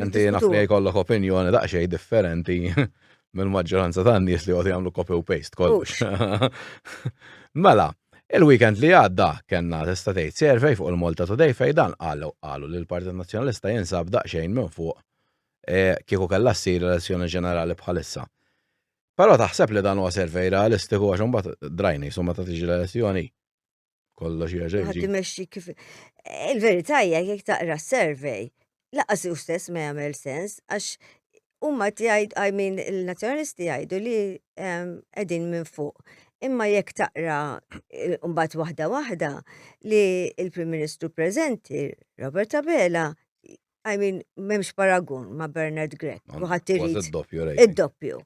Inti naf li jkollok opinjoni daqsxejn differenti mill-maġġoranza tan-nies li għod jagħmlu copy u paste kollox. Mela, il-weekend li għadda kellna tista' tgħid survey fuq il-Malta Today fejn dan qalu qalu li l-Partit Nazzjonalista jinsab daqsxejn minn fuq eh, kieku kellha ssir elezzjoni ġenerali bħalissa. Però taħseb li dan huwa servej realistiku għax imbagħad drajni summa ta' tiġi l-elezzjoni. Kollox hija ġejġi. Ħadd imexxi kif. Il-verità hija jekk taqra s-survey, laqas hu stess ma jagħmel sens għax huma jgħid I mean il-nazzjonalisti jgħidu li ehm, qegħdin minn fuq. Imma jekk taqra mbagħad waħda waħda li il-Prim Ministru preżenti Robert Abela I mean, memx paragun ma' Bernard Grek, kuħat irrit. Id-doppju.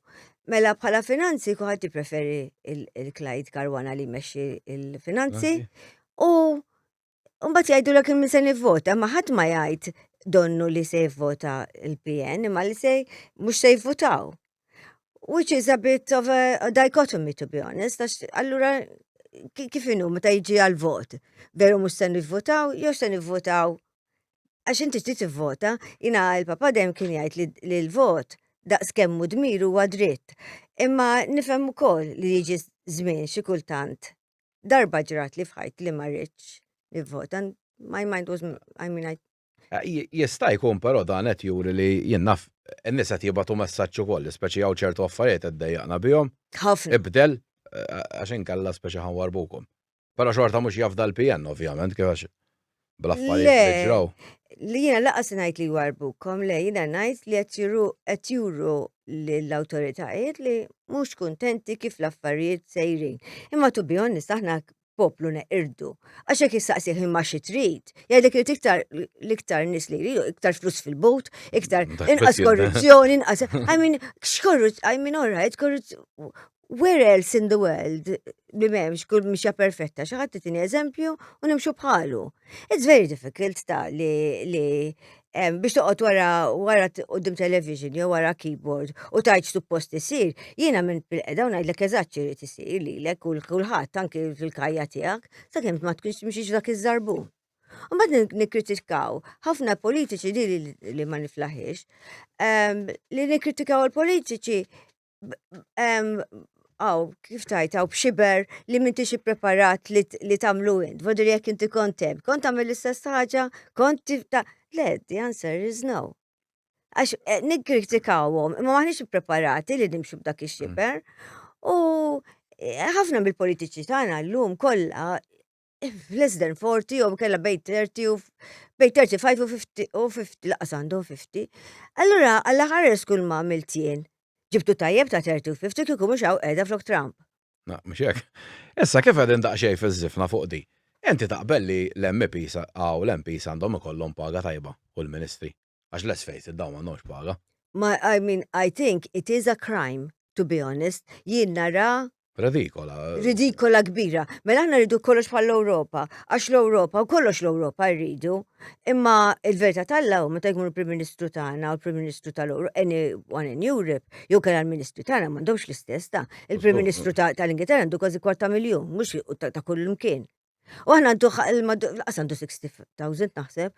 Mela bħala finanzi kuħat preferi il-Clyde Karwana li meċi il-finanzi. U mbagħad jgħidu l kim se nivvota, ma ħadd ma jgħid donnu li se jivvota il-PN, ma li se mhux se jivvotaw. Which is a bit of a dichotomy to be honest, għax allura kif inhu meta jiġi għal-vot, veru mhux se nivvotaw, jew se nivvotaw għax inti trid tivvota, jina il-papa dejjem kien jgħid li l-vot daqs kemmu dmir huwa dritt. Imma nifhem ukoll li jiġi żmien xi kultant. Darba ġrat li fħajt li ma rridx nivvota. My mind was, I mean, I... Eh, jista' jkun però dan qed juri li jien naf n-nies qed jibgħatu messaġġ ukoll, speċi hawn ċertu affarijiet qed dejjaqna bihom. Ħafna. Ibdel eh, għax inkella speċi ħanwarbukom. Pero xorta mux jafda l-PN, ovvjament, kif bl-affarijiet ġraw. Li jina laqas najt li warbukom, le jina najt li qed juru l-autoritajiet li mux kontenti kif l-affarijiet sejrin. Imma tu bijon nistaħna poplu neqirdu. Għaxek jistaqsiħ imma xi trid, jgħidlek li tiktar l-iktar nis li jridu, iktar flus fil-bot, iktar inqas korruzzjoni, inqas. I mean, x'korruzzjoni, I mean, all right, korruzzjoni. Where else in the world li memx kull mixja perfetta xaħat titini eżempju u nimxu bħalu. It's very difficult ta' li, li um, biex toqgħod wara wara qudiem television jew wara keyboard u tajt suppost isir, jiena minn bil-qeda u ngħidlek eżatt x'irid isir lilek kull kulħadd anki fil-kajja tiegħek sakemm ma tkunx mxiex dak iż-żarbu. Mbagħad nikkritikaw ħafna politiċi li li ma niflaħiex. Um, li nikkritikaw il-politiċi għaw, kif tajt, għaw bxiber li minti xie preparat li tamlu int, vodur jek inti kontem, kont għamil l-istess ħagġa, kont tif ta' le, the answer is no. Għax eh, nikritikawom, imma maħnix preparati li nimxu b'dak ix-xiber. U eh, ħafna mill-politiċi tagħna llum kollha f'less than 40 jew kella bejn 30 u bejn 35 u 50 u 50 laqas għandhom 50. Allura għall aħħar skull ma għamilt jien. Ġibtu tajjeb ta' 30 u 50 kieku mhux hawn qiegħda flok Trump. Na, mhux hekk. Issa kif qegħdin daqsxejn fiż-żifna fuq di. Inti taqbel li l-MPs għaw l-MPs għandhom ikollhom paga tajba u l-Ministri. Għax let's face it, dawn m'għandhomx paga. Ma I mean, I think it is a crime, to be honest, jien nara Ridikola. Ridikola kbira. Mela aħna rridu kollox bħal l-Ewropa, għax l-Ewropa u kollox l-Ewropa rridu. Imma il-verità tal-law meta jkunu l-Prim Ministru tagħna u l-Prim Ministru tal-Ewropa, anyone in Europe, jew kien l-Ministru tagħna m'għandhomx l-istess ta' il-Prim Ministru tal-Ingilterra għandu kważi kwarta miljun, mhux ta' kull imkien. U aħna għandu l-qas għandu 60,000 naħseb.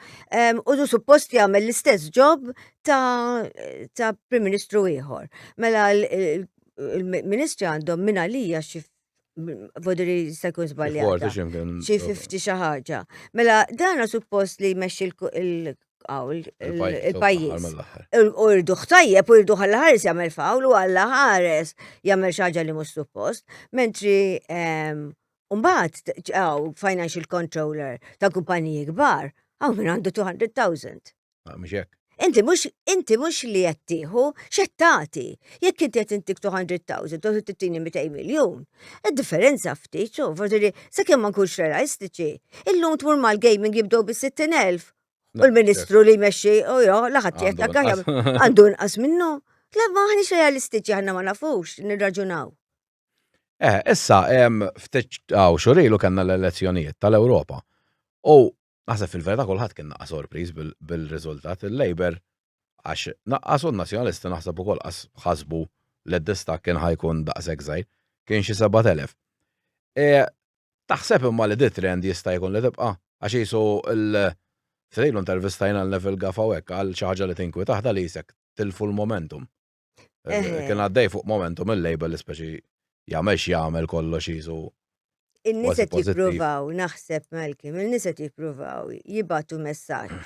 U du suppost jagħmel l-istess ġob ta' Prim Ministru ieħor. Mela l-Ministri għandhom minn għalija xi vodri se jkun żbaljat. Xi 50 xi ħaġa. Mela dana suppost li jmexxi l il-pajjiż. U rridu ħtajjeb u rridu ħalla ħares jagħmel fawl u ħalla ħares jagħmel xi ħaġa li mhux suppost, mentri Mbagħad ġew financial controller ta' kumpaniji kbar, hawn min għandu 200,000. Ah, mhux hekk. Inti mhux inti mhux li qed tieħu x'qed tagħti. Jekk inti qed intik 200,000 u tittini 200 miljun, id-differenza ftit xu, forsi li sakemm ma nkunx realistiċi, illum tmur mal-gaming jibdew bis-60,000 u l-Ministru li jmexxi u jo laħat jgħid għandu nqas minnu. Le maħniex realistiċi aħna ma nafux nirraġunaw. Eh, issa, ftit għaw xurilu kanna l-elezzjonijiet tal-Europa. U naħseb fil-verita kullħat kien naqqa sorpriz bil-rizultat il-Labor għax naqqas u n-nazjonalisti naħseb ukoll ħasbu li d-distak kien ħajkun daqshekk żgħir, kien xi 7000. E, taħseb imma li dit trend jista' jkun li tibqa' għax jisu l- F'dejlu intervistajna l-level gafawek għal xaħġa li tinkwi taħda li jisek tilfu l-momentum. Kien għaddej fuq momentum il-label speċi jagħmel x'jagħmel kollox jisu. In-nies qed jippruvaw naħseb Malcolm, in-nies qed jippruvaw jibatu messaġġ.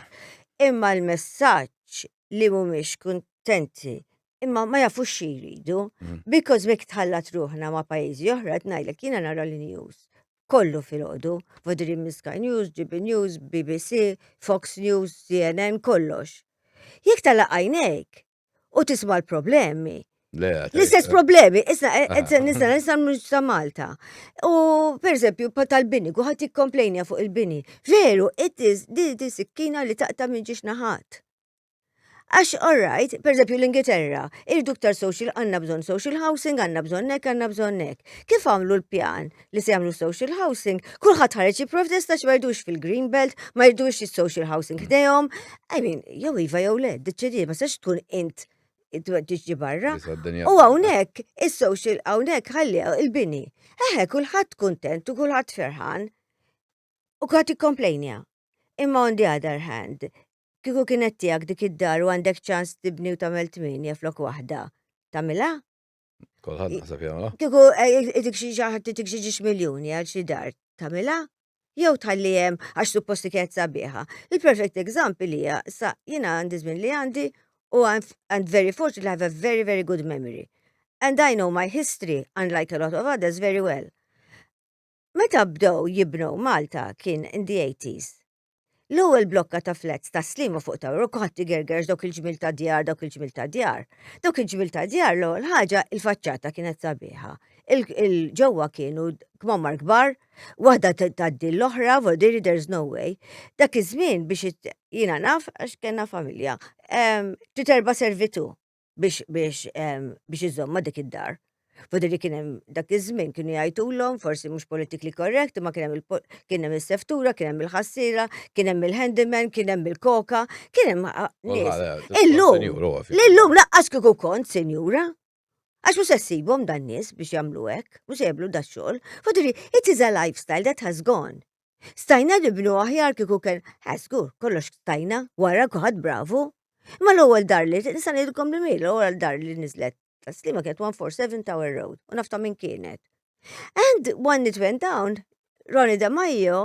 Imma l-messaġġ li mhumiex kuntenti imma ma jafux xi jridu, mhm. because mek tħallat ruħna ma' pajjiżi oħra qed ngħidlek jiena nara l-news kollu fil-ħodu, Vodri Miska News, GB News, BBC, Fox News, CNN, kollox. Jek tal-għajnek, u tisma l-problemi. L-istess problemi, issa eh, eh, eh, nista nista mux ta' Malta. U per eżempju, tal-bini, kuħat jikkomplejnja fuq il-bini. Veru, it-tiz, di di sikkina li taqta minn ġiex naħat. Għax, all right, per eżempju l-Ingilterra, irdu ktar social, għanna bżon social housing, għanna bżon nek, għanna bżon nek. Kif għamlu l-pjan? li se jagħmlu social housing, kulħadd ħareġ jipprotesta xi ma jridux fil-Green Belt, ma jridux social housing ħdejhom. I mean, jew iva jew le, deċidi ma sex tkun int tiġi barra. U hawnhekk is-social hawnhekk ħalli il-bini. Eħe kulħadd kuntent u kulħadd ferħan. U kulħadd ikkomplejnja. Imma on the other hand, kieku kienet tiegħek dik id-dar u għandek ċans tibni u tagħmel tminja flok waħda, tagħmilha? Kolħad nasab jagħmilha. Kieku eh, dik xi ġaħat dik xi ġiex miljuni għal xi dar tagħmilha jew tħalli hemm għax suppost kienet sabiħa. Il-perfect example hija sa jiena għandi żmien li għandi u I'm very fortunate I have a very very good memory. And I know my history unlike a lot of others very well. Meta bdew jibnu Malta kien in the 80s. L-ewwel blokka ta' flats ta' slima fuq ta' u ħadd igergerx dawk il-ġmil ta' djar, dawk il-ġmil ta' djar. Dawk il-ġmil ta' djar l-ewwel ħaġa il-faċċata kienet sabiħa. Il-ġewwa kienu kmammar kbar, waħda tgħaddi l-oħra, vodiri there's no way. Dak iż-żmien biex jiena naf għax kellna familja. Trid erba' servitu. biex biex biex iżomma dik id-dar. Fodri kien hemm dak iż-żmien kienu jgħidulhom forsi mhux politically correct, imma kien hemm kien hemm is-seftura, kien hemm il-ħassiera, kien hemm il-handyman, kien hemm il-koka, kien hemm illum. Illum laqqas kieku kont senjura. Għax mhux sessibhom dan nies biex jagħmlu hekk, mhux jagħmlu da xogħol. Fodri, it is a lifestyle that has gone. Stajna nibnu aħjar kieku kien ħasgur, kollox stajna, wara kuħad bravu. Ma l-ewwel dar li nista' ngħidilkom li miel, l-ewwel dar li niżlet taslima kienet 147 Tower Road u nafta minn kienet. And when it went down, Ronnie De Maio,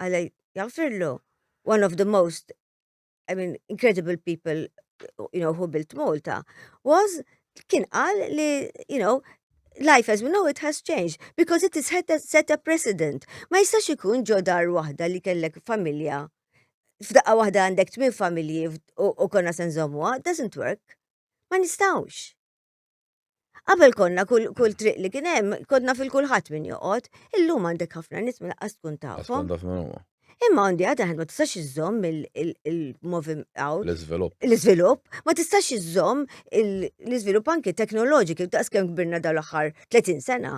għalaj jaffirlu, one of the most I mean, incredible people, you know, who built Malta, was kien qal li, you know, life as we know it has changed because it is set a, set a precedent. Ma jistax ikun ġo dar waħda li kellek familja. F'daqqa waħda għandek tmien familji u konna senżomuha, doesn't work. Ma nistawx. Qabel konna kull triq li kien hemm, konna fil-kulħadd min joqgħod, illum għandek ħafna nies minn qas tkun tafhom. Imma għandi għad għad ma tistax iżżomm il-movim għaw. L-izvilup. L-izvilup, ma tistax iżżomm l-izvilup anki teknoloġiki, daqs kem kbirna dal-axar 30 sena.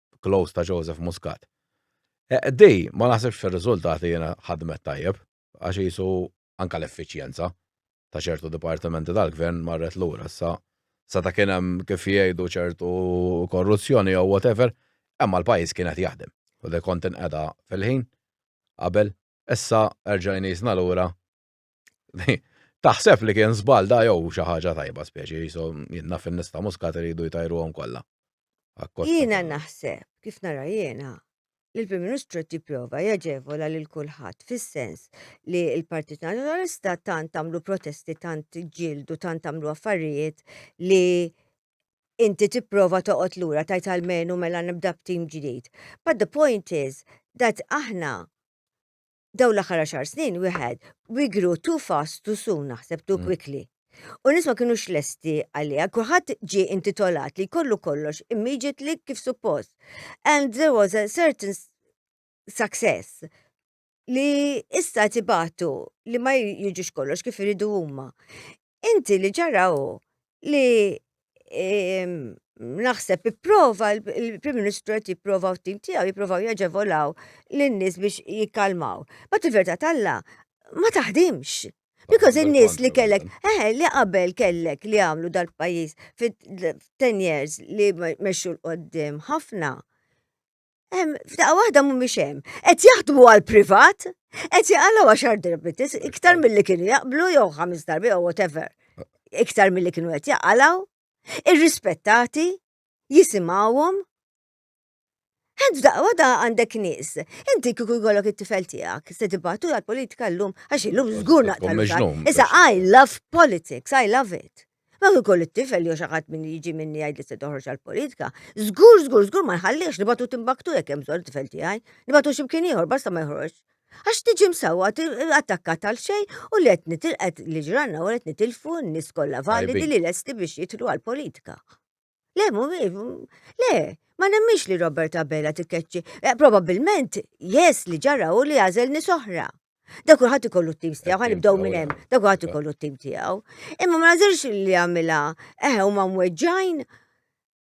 close ta' Joseph Muscat. Eh, di, ma naħsibx fir-riżultati jiena ħadmet tajjeb, għax jisu anka l-effiċjenza ta' ċertu dipartimenti tal-gvern marret lura sa sa ta' kien hemm kif jgħidu ċertu korruzzjoni jew whatever, imma l-pajjiż kien qed jaħdem. U li kont inqeda fil-ħin qabel, issa erġajni jisna lura Taħseb li kien żball da jew xi ħaġa tajba speċi jisu jinnna fin-nista muskat iridu jtajruhom kollha. Jiena naħseb kif nara jiena li l-Prim Ministru qed jipprova jaġevola lil kulħadd fis-sens li l-Partit Nazzjonalista tant tagħmlu protesti, tant ġildu, tant tagħmlu affarijiet li inti tipprova toqgħod lura tajt għalmenu mela nibda b'tim ġdid. But the point is that aħna daw l-aħħar għaxar snin wieħed we grew too fast too soon naħseb too mm. quickly. U nisma kienu xlesti għalija, kulħadd ġi intitolat li kollu kollox immediately kif suppost. And there was a certain success li issa tibatu li ma jiġux kollox kif iridu huma. Inti li ġara hu li ehm, naħseb ipprova il-Prim Ministru qed jipprova u t-tim tiegħu jipprovaw jaġevolaw lin-nies biex jikkalmaw. Bat il-verità talla ma taħdimx. Because in-nies li kellek, eh, li qabel kellek li għamlu dal-pajjiż fit-10 years li mexxu l-qoddim ħafna. F'daqqa waħda mhumiex hemm. Qed jaħdmu għal privat, qed jaqalgħu għaxar darbitis, iktar milli kienu jaqblu jew ħames darbi jew whatever. Iktar milli kienu qed jaqalgħu, irrispettati, jisimgħuhom. Għed f'daqqa waħda għandek nies. Inti kieku jkollok it-tifel tiegħek, se tibatu għal politika llum għax illum żgur naqta. Issa I love politics, I love it. Ma kieku l-tifel jew xi ħadd min jiġi minni jgħid li se toħroġ għall-politika, żgur żgur żgur ma nħallihx nibgħatu Timbaktu jekk hemm bżonn it-tifel tiegħi, nibgħatu xi mkien ieħor basta ma joħroġx. Għax tiġi msewwa attakkat għal xejn u li qed nitilqet li ġranna u qed nitilfu n-nies kollha validi li lesti biex jidħlu għall-politika. Le, le, ma nemmix li Robert Abela tikkeċċi. Eh, Probabilment, jes li ġara u li għazel nisoħra. Da kulħadd ikollu t-tim tiegħu, ħan nibdew minn hemm, da kulħadd ikollu t-tim tiegħu. Imma ma nażirx li għamilha eħe eh, u ma mweġġajn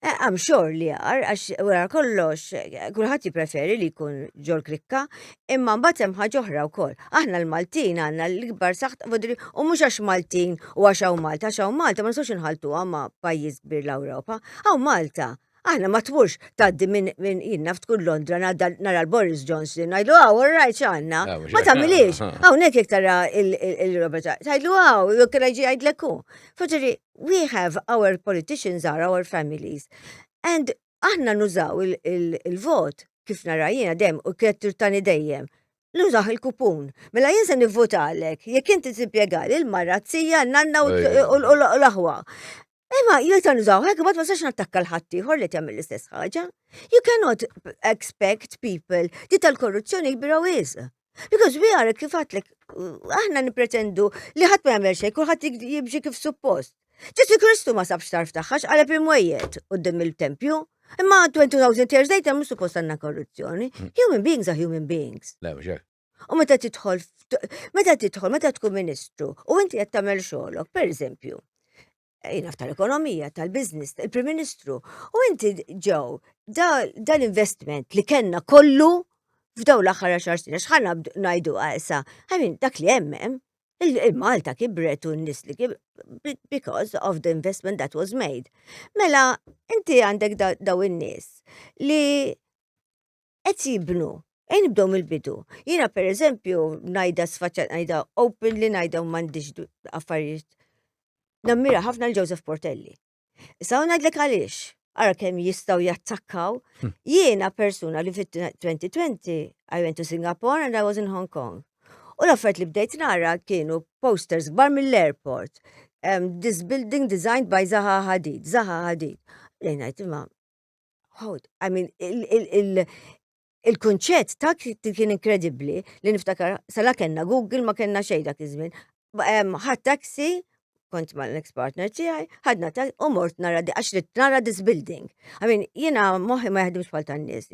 Għam eh, xor li għar, għax wara kollox, kullħat jipreferi li jkun ġol krikka, Imma mbagħad hemm ħaġa oħra wkoll. Aħna l-Maltin għandna l-ikbar saħt fodri u mhux għax Maltin u għax hawn Malta, għax hawn Malta ma nistgħux inħaltuha ma' pajjiż kbir l-Ewropa. Hawn Malta Aħna ma tmurx tgħaddi minn min jinnna tkun Londra nara l-Boris Johnson, ngħidlu għaw, ah, rajt x'għandna. Ah, ma tagħmilix. Ah, Hawnhekk jekk tara il-Robert, tgħidlu għaw, jew kien ġi jgħidlek hu. Forġeri, we have our politicians are our families. And aħna nużaw il-vot kif nara jiena dejjem u kienet turtani dejjem nużaħ il-kupun. Mela jien se nivvotalek, jekk inti timpjegali l-marra t-sija, nanna u l-aħwa. Imma jien se nużaw hekk ma tistax nattakka l-ħadd ieħor li tagħmel l-istess ħaġa. You cannot expect people di tal-korruzzjoni kbira wisq. Because we are, kif għatlek, aħna nipretendu li ħadd ma jagħmel xejn, kulħadd jimxi kif suppost. Ġesu Kristu ma sabx tarf tagħħax għaleb imwejjed qudiem il-tempju. Imma 2000 years later mhux suppost għandna korruzzjoni. Hmm. Human beings are human beings. U meta tidħol, meta tidħol, meta tkun ministru, u inti qed tagħmel xogħolok, pereżempju, jina ftar ekonomija tal-biznis, il-Prim Ministru, u inti ġew dal-investiment li kellna kollu f'daw l-aħħar għaxar snin, xħana najdu għajsa, għamin dak li jemmem, il-Malta kibret u n-nis li kibret, because of the investment that was made. Mela, inti għandek daw in-nis li qed jibnu. Ejn nibdew mill-bidu. Jiena per eżempju, najda sfaċċat najda open li najda u mandiġ affarijiet. Nammira ħafna l-Joseph Portelli. Issa u najdlek għaliex, għara kem jistaw jattakkaw. Hmm. Jiena persuna li fit-2020, I went to Singapore and I was in Hong Kong. U l-affert li bdejt nara kienu posters gbar mill-airport. Um, this building designed by Zaha Hadid, Zaha Hadid. Lejnajt imma Hold, I mean, il-kunċett ta' kien inkredibbli li niftakar sala kellna Google ma kellna xejn dak iż-żmien. Ħadd taxi, kont ma l-ex partner tiegħi, ħadna ta' u mort nara di għax li nara this building. I mean, jiena moħħi ma jaħdimx bħal tan-nies,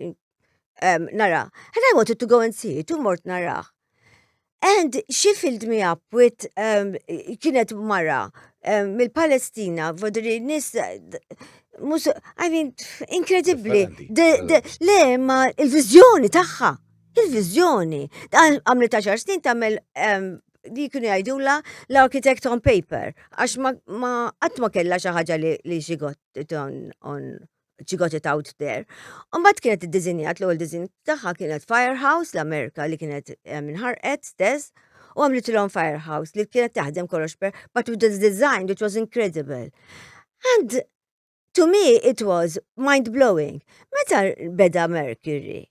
um, nara. And I wanted to go and see it, u mort nara. And she filled me up with, um, kienet mara um, mill-Palestina, vodri nis, mus, I mean, inkredibli. Le, ma il-vizjoni taħħa, il-vizjoni. Għamli ta' xar snin tamel um, li kienu jgħidula l-architect on paper, għax ma għatma kella xaħġa li xigot on, on she got it out there. Umbat kienet id-dizinjat, l-ewwel dizin tagħha kienet Firehouse l-Amerika li kienet eh, minħarqet stess u għamlitilhom Firehouse li kienet taħdem kollox per but with the design which was incredible. And to me it was mind blowing. Meta beda Mercury,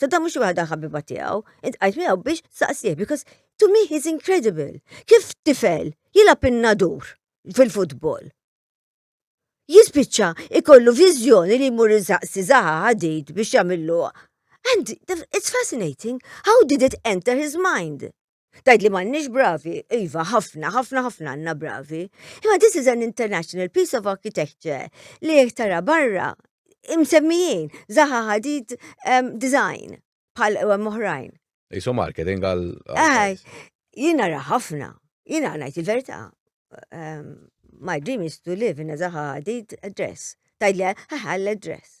Saddam mhux waħda ħabiba tiegħu, intqajt miegħu biex saqsih because to me he's incredible. Kif tifel jilgħab in-nadur fil-futbol? Jispiċċa ikollu viżjoni li jmur saqsi zaħa ħadid biex jagħmillu. And it's fascinating. How did it enter his mind? Tajt li m'għandniex bravi, iva, ħafna, ħafna, ħafna għandna bravi. Imma this is an international piece of architecture li jek tara barra imsemmijin, zaħa ħadid um, design bħal ewem oħrajn. Isu marketing għal. Eh, jina ra ħafna, jina għanajt il-verta. Um, my dream is to live in a zaħa ħadid address. Tajt li ħal address.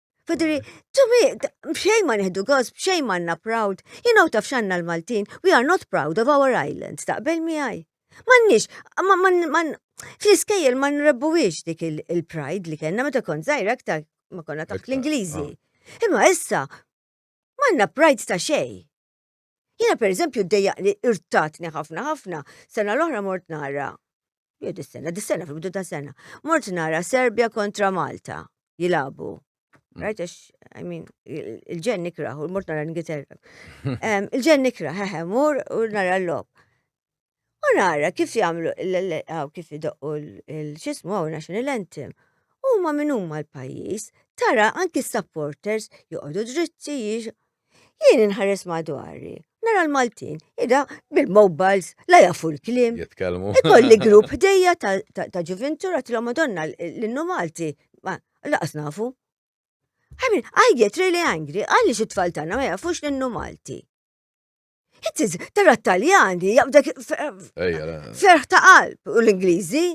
Fidri, to me, bxej ma neħdu gos, bxej ma għanna proud. You know taf xanna l-Maltin, we are not proud of our island, taqbel miħaj. Mannix, man, fl-iskejjel ma nrebbuwix dik il-pride li kena, meta kont zaħir aktar ma konna taħt l-Ingliżi. Ah. Imma issa, manna pride ta' xej. Jiena pereżempju ddejjaq li irtatni ħafna ħafna, sena l-oħra mort nara Jo dis-sena, dis-sena fil-bidu ta' sena. Mort nara Serbia kontra Malta jilabu. Mm. Right, għax, I mean, il-ġen nikra, u mort nara l-Ingilterra. Il-ġen nikra, hehe, mur u nara l-lob. U nara kif jagħmlu għaw kif idoqqu l-xismu għaw national anthem. U ma minn huma l-pajjiż, tara anki s-supporters joqogħdu dritti jiex. Jien inħares madwari, nara l-Maltin, ida bil-mobiles, la jafu l-klim. Jitkellmu. Ikolli grupp ħdejja ta' ġuventura t madonna l-innu Malti, ma laqas nafu. Għamin, I get really angry, għalli xi tfal tagħna ma jafux l-innu Malti. It-tiz, tara t-Taljani, jaqbdek ferħ ta' qalb u l-Ingliżi.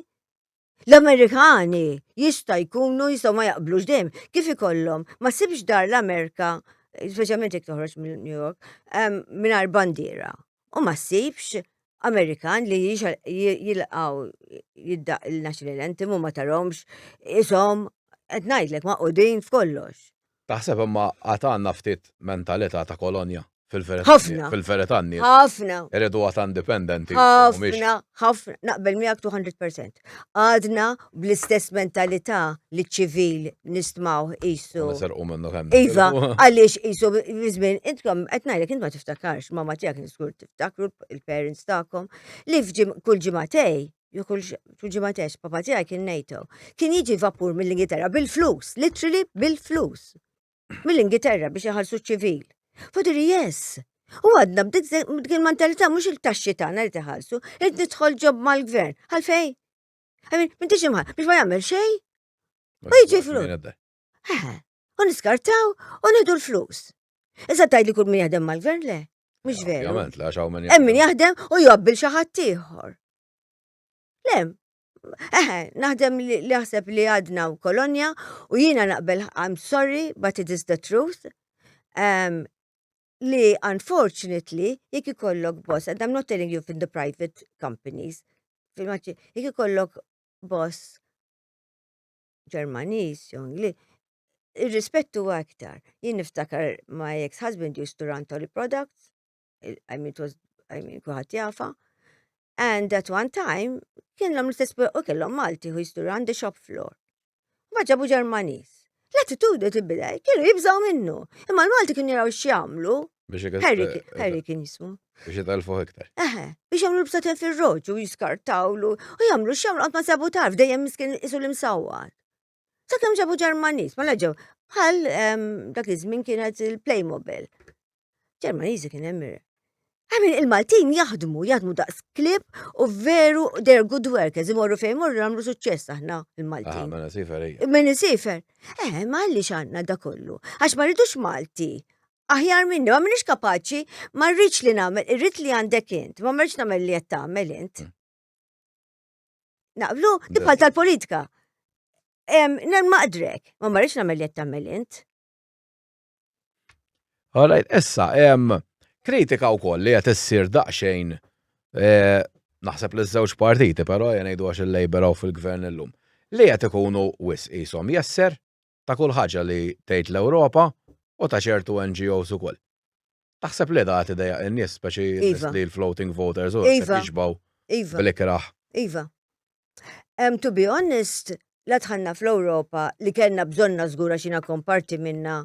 L-Amerikani jista' jkunu jistgħu ma jaqblux dejjem kif ikollhom ma sibx dar l-Amerika, speċjalment jekk toħroġ minn New York, mingħajr bandiera. U ma sibx Amerikan li jilqaw jiddaq il-national anthem u ma taromx isom qed ngħidlek ma' qudin f'kollox. Taħseb imma għad għandna ftit mentalità ta' kolonja fil-verità Ħafna. fil-verità n-nies Ħafna. iridu għad indipendenti u mhumiex. Ħafna, ħafna, naqbel miegħek 200%. Għadna bl-istess mentalità li ċ-ċivil nistmgħuh U qisu nisirqu minnu kemm Iva, nitilqu. għaliex qisu fi żmien intkom qed ngħidlek int ma tiftakarx, mama tiegħek żgur tiftakru, il-parents tagħkom, li f'ġim- kull ġimagħtej Ju kull ġimatex, papa tiegħi kien NATO. Kien jiġi vapur mill-Ingilterra bil-flus, literally bil-flus. Mill-Ingilterra biex iħallsu ċivil. Fadiri, yes. U għadna b'dik il mentalità mhux il-taxxi tagħna li tiħallsu, id nidħol ġob mal-gvern. Għalfej? Għamil, minn tiġi mħal, biex ma jagħmel xejn? Ma jiġi flus. Eħe, u niskartaw u nidu l-flus. Iżda tajt li kull min jaħdem mal-gvern le. Mux veru. Jament, la xaw minn Emmin jaħdem u jobbil xaħat tiħor. Lem, eħe, naħdem li jaħseb li għadna u kolonja u jina naqbel I'm sorry, but it is the truth. Um, li unfortunately, jek ikollok boss, and I'm not telling you in the private companies, fil-maċi, jek ikollok boss Ġermaniż, jew Ingliż, ir-rispett huwa iktar. Jien niftakar my ex-husband used to run Tolly Products, I mean, it was, I mean, kuħat jafa. And at one time, kellhom l-istess u kellhom Malti who used to run the shop floor. Ma ġabu Ġermaniż. L-attitudni tibdel, kienu jibżaw minnu. Imma l-Malti kienu jaraw x'jagħmlu, Harry kien jismu. Biex jitalfuħ iktar. Eħe, biex jamlu l-bsaten fil-roġu, jiskartawlu, u jamlu xamlu għatma sabu tarf, dejjem miskin isu l-imsawar. Sakem ġabu ġermanis, ma laġaw, bħal dak iż-żmien kienet il-Playmobil. Ġermaniżi kien hemm Għamin il-Maltin jaħdmu, jaħdmu daqs klib u veru they're good workers, imorru fejn morru għamlu suċċess aħna il-Maltin. Ah, mena sifer, ej. Mena sifer. Eh, ma għalli xanna da kollu. Għax ma rridux Malti aħjar minni, ma minix kapaċi, ma rridx li nagħmel, irrid li għandek int, ma merċ nagħmel li qed tagħmel int. Mm. Naqblu, tibħal tal-politika. Nen maqdrek, ma marriċ namel li jattamel int. Għalajt, issa, kritika u koll li jatessir daqxejn e, naħseb li żewġ partiti, pero jenajdu għax il-Labor u fil-gvern l-lum. Li jgħat ikunu wis jisom jesser ta' kull ħaġa li tgħid l-Ewropa u ta' ċertu NGOs ukoll. Taħseb li daqat idejjaq lin-nies speċi nies li l-floating voters u hekk qed jixbgħu bl-ikrah? Iva. To be honest, la dħalna fl-Ewropa li kellna bżonnha żgur għax jiena kont parti minnha,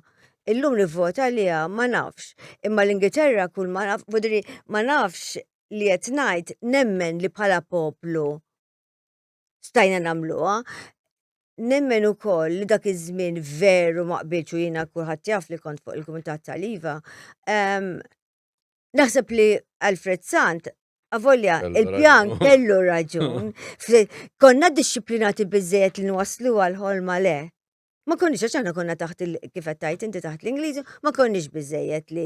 illum nivvota għaliha ma nafx. Imma l-Ingilterra kull ma naf, vuol dire ma nafx li qed ngħid nemmen li bħala poplu, stajna nagħmluha. Nemmen ukoll li dak iż-żmien veru ma qbilx u jiena kulħadd jaf li kont fuq il-Kumitat tal-Iva. Ehm, naħseb li Alfred Sant Avolja, il-pjan kellu raġun. Konna disciplinati bizzejet li nwaslu għal-ħolma le. Ma konniex għax aħna konna taħt il kif qed tajt inti taħt l-Ingliżi, ma konniex biżejjed li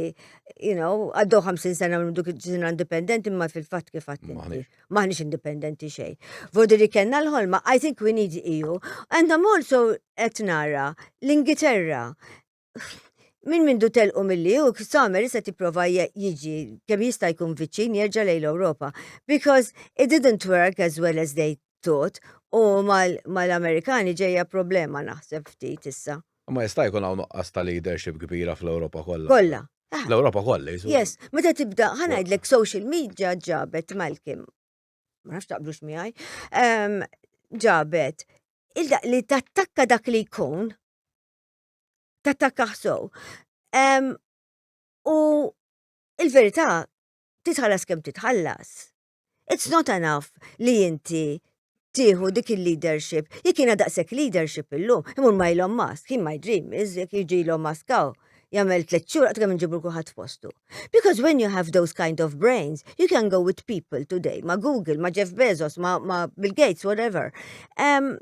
you know, għaddew 50 sena minn dik ġisna indipendenti imma fil-fatt kif qatt inti. Maħniex. Maħniex indipendenti xejn. Vodi li kellna l-ħolma, I think we need EU. And I'm also qed nara l-Ingilterra. Min mindu telqu mill-li u Samer issa tipprova je- jiġi kemm jista' jkun viċin jerġa' lejn l-Ewropa. Because it didn't work as well as they tut u mal-Amerikani ġejja problema naħseb ftit issa. Ma jista' jkun hawn nuqqas ta' leadership kbira fl-Ewropa kollha. Kollha. Ah. L-Ewropa kollha jisu. Yes, meta tibda ħanajdlek social media ġabet Malcolm. Ma nafx taqblux miegħi. Ehm, ġabet il-daq li tattakka dak li jkun tattakka ħsow. Ehm, u il-verità titħallas kemm titħallas. It's not enough li inti tieħu dik il-leadership. Jekk jiena daqshekk leadership illum, imur ma ilhom mask, he might dream, jekk jiġi ilhom maskaw jagħmel tliet xhur qatt kemm inġibru kulħadd postu. Because when you have those kind of brains, you can go with people today, ma' Google, ma' Jeff Bezos, ma', ma Bill Gates, whatever. Um,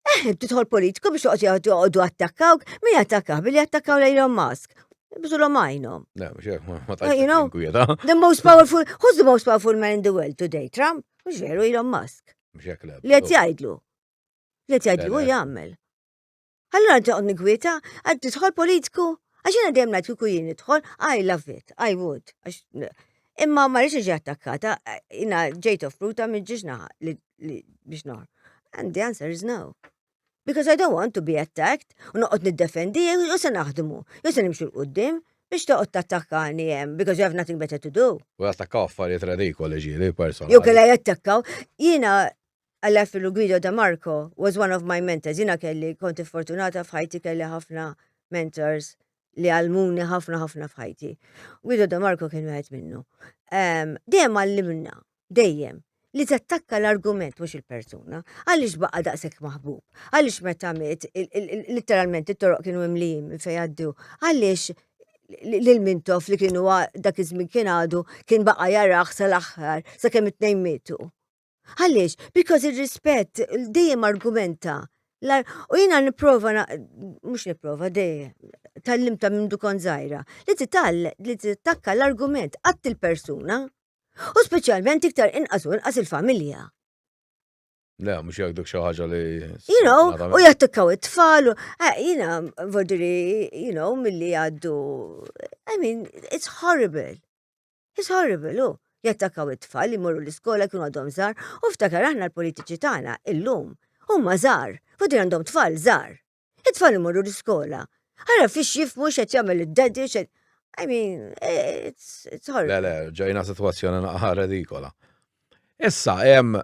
Eh, titħol politiku biex toqgħod joqgħodu attakkawk, min attakkaw billi attakkaw l Elon Musk. Bżulhom għajnhom. You know, the most powerful, who's the most powerful man in the world today? Trump? Mhux veru Elon Musk. Li qed jgħidlu. Li qed jgħidlu u jagħmel. Allura nti qod nikwieta, għad tidħol politiku, għax jiena dejjem ngħid kieku jien nidħol, I love it, I would. Imma ma rridx iġi attakkata, jina ġejt offruta minn ġiġna biex noħor. And the answer is no. Because I don't want to be attacked, u noqgħod niddefendi, jew se naħdmu, jew se nimxu l-qudiem, biex toqgħod tattakkani hemm, because you have nothing better to do. U jattakkaw affarijiet redikoli ġieli personali. Jew kellha jattakkaw, jiena għal-Affilu Guido da Marco was one of my mentors, jiena kelli konti fortunata f'ħajti kelli ħafna mentors li għalmuni ħafna ħafna f'ħajti. Guido De Marco kien wieħed minnu. Ehm, dejjem għallimna, dejjem, li tattakka l-argument mhux il-persuna. Għaliex baqa' daqshekk maħbub? Għaliex meta miet, letteralment it-toroq kienu imlijin minn fejn għaddu. Għaliex lil mintof li kienu dak iż-żmien kien għadu kien baqa' jarah sal-aħħar sakemm it-tnejn mietu. Għaliex? Because ir-rispett dejjem argumenta. U jina niprofa, mux niprofa, dejjem, tal-limta minn dukon zaħira, li titall, li tittakka l-argument għatt il-persuna, u specialment iktar inqas u inqas il-familja. Le, mux jgħidu xaħġa li. You know, u jattikkaw it-tfal, eh, jina, vodiri, you know, mill-li għaddu. I mean, it's horrible. It's horrible, hu. Jattakkaw it-tfal li morru l-iskola jkunu għadhom żgħar u ftakar aħna l-politiċi tagħna illum huma żgħar, fudin għandhom tfal żgħar. It-tfal imorru l-iskola. Ara fiex jifmu x'qed jagħmel id-daddy x'qed I mean, it's, it's horrible. Le, le, ġejna situazzjoni naqħa redikola. Issa, em,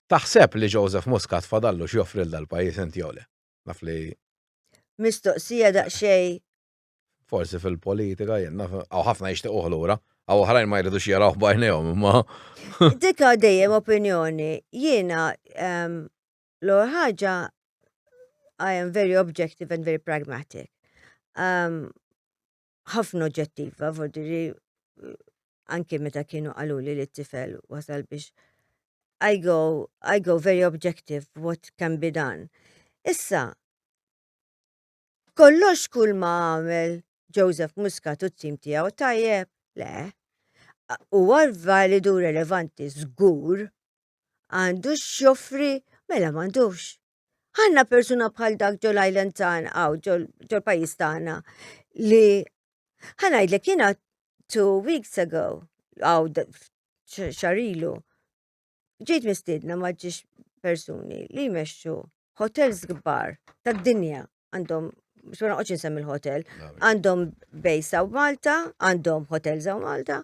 taħseb li Joseph Muscat fadallu x'joffri l dal-pajis inti jole. Naf li. Mistoqsija daqxej Forsi fil-politika jenna, għaw ħafna jishtiq uħlura, għaw ħrajn ma jridux jaraw bajnejhom imma. Dika dejjem opinjoni, jiena ehm, l-or ħaġa I am very objective and very pragmatic. Ehm, ħafna oġġettiva, vodiri, anki meta kienu għaluli li t-tifel wasal biex I go, I go very objective what can be done. Issa, Kollox kull ma għamel Joseph Muscat u t-tim tiegħu tajjeb, le. Huwa validu relevanti żgur għandu x'joffri mela m'għandux. Għandna persuna bħal dak ġol Island tagħna għaw ġol pajjiż tagħna li ħanajdlek jiena two weeks ago għaw xarilu ġejt mistiedna ma ġiex persuni li jmexxu hotels kbar tad-dinja għandhom xo naqgħodx insemmi l-hotel, għandhom bejsa u Malta, għandhom hotels u Malta.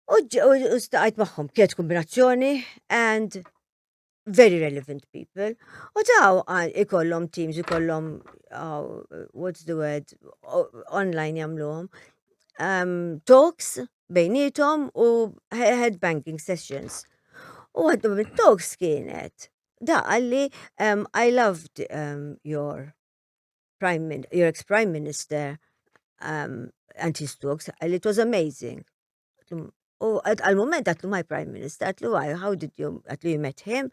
U staqajt magħhom kienet kombinazzjoni and very relevant people. U taw ikollhom teams, ikollhom uh, what's the word, online jagħmluhom. Um, talks, bejnietom u head banking sessions. U għaddu mit talks kienet, da għalli um, I loved um, your prime min your ex-prime minister um, and his talks, għalli it was amazing. U għal-moment għatlu my prime minister, għatlu why, how did you, għatlu you met him?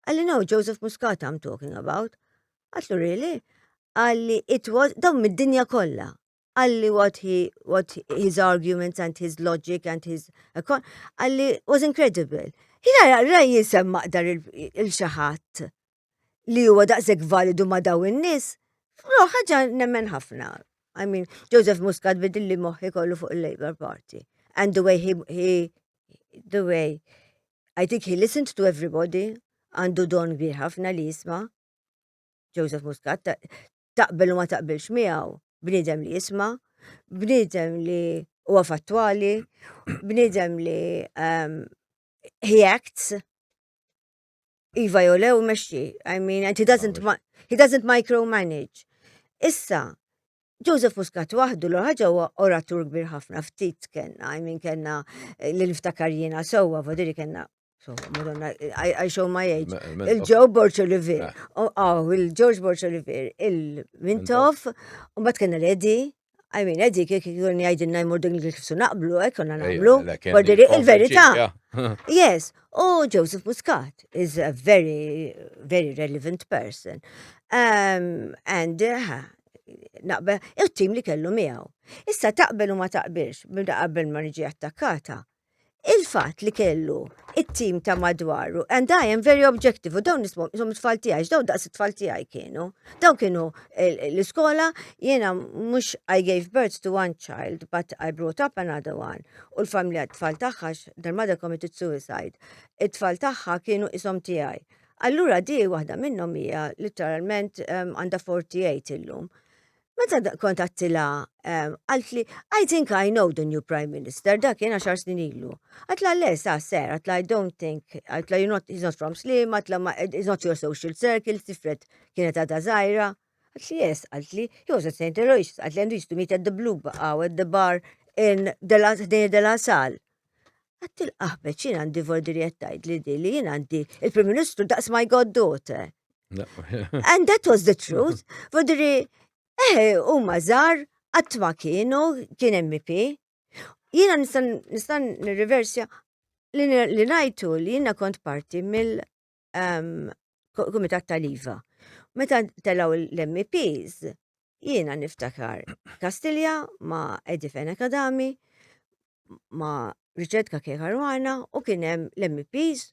Għalli no, Joseph Muscat I'm talking about. Għatlu really? Għalli it was, dawn mid-dinja kolla. għalli what he, what his arguments and his logic and his għalli was incredible. Jina jaqra jisem maqdar il-xaħat li huwa daqseg validu ma daw in-nies, fro ħaġa nemmen ħafna. I mean, Joseph Muscat bidilli moħħi kollu fuq il-Labour Party. And the way he, he, the way, I think he listened to everybody, għandu don kbir ħafna li jisma. Joseph Muscat, taqbel u ma taqbilx miegħu, bniedem li jisma, bniedem li huwa fattwali, bniedem li um, he acts, iva jew lew mexxi, I mean, and he doesn't, he doesn't micromanage. Issa, Joseph Muscat waħdu l ħaġa huwa oratur kbir ħafna ftit kellna, I mean kellna eh, li niftakar jiena sewwa vodiri kellna Madonna, I show my age. Il-Joe Borch Olivier, eh. oh, oh, il-George Borch Olivier, il-Mintoff, u bat kena l-Edi, I mean, Edi, kik jgħidin jgħidinna jmur din kif su naqblu, ek konna naqblu, bordiri il-verita. Yes, u Joseph Muscat is a very, very relevant person. Um, and uh, naqbel, il-tim li kellu miegħu. Issa taqbel u ma taqbilx, bimda qabel ma niġi attakkata, il-fat li kellu il-tim ta' madwaru, and I am very objective, u dawn nismom, jom it-tfal tijaj, dawn daqs it-tfal tijaj kienu, dawn kienu l-iskola, jena mux I gave birth to one child, but I brought up another one, u l-familja t-tfal taħħax, their mother committed suicide, it-tfal taħħa kienu isom tijaj, Allura di waħda minnhom hija litteralment ehm, għandha 48 illum. Meta kont għattila, ehm, għaltli, I think I know the new Prime Minister, dak jena xar snin ilu. Għatla le, sa, ser, għatla I don't think, għatla you're not, he's not from Slim, għatla he's not your social circle, tifret kienet għada zaħira. Għatli, yes, għatli, he was at St. Elois, għatli għandu jistu meet at the Blue Bar, at the bar in Dela Sal. Għat il-qaħbeċ jien għandi vordi li qed tgħidli di li jien għandi il-Prim Ministru daqs my goddaughter. And that was the truth. Vordi li eh huma żgħar qatt ma kienu kien MP. Jiena nista' nirriversja li ngħidu li jiena kont parti mill kumitat tal-IVA. Meta telaw l-MPs, jiena niftakar Kastilja ma Edi Fena Kadami, ma Richard Kake Karwana u kienem l-MPs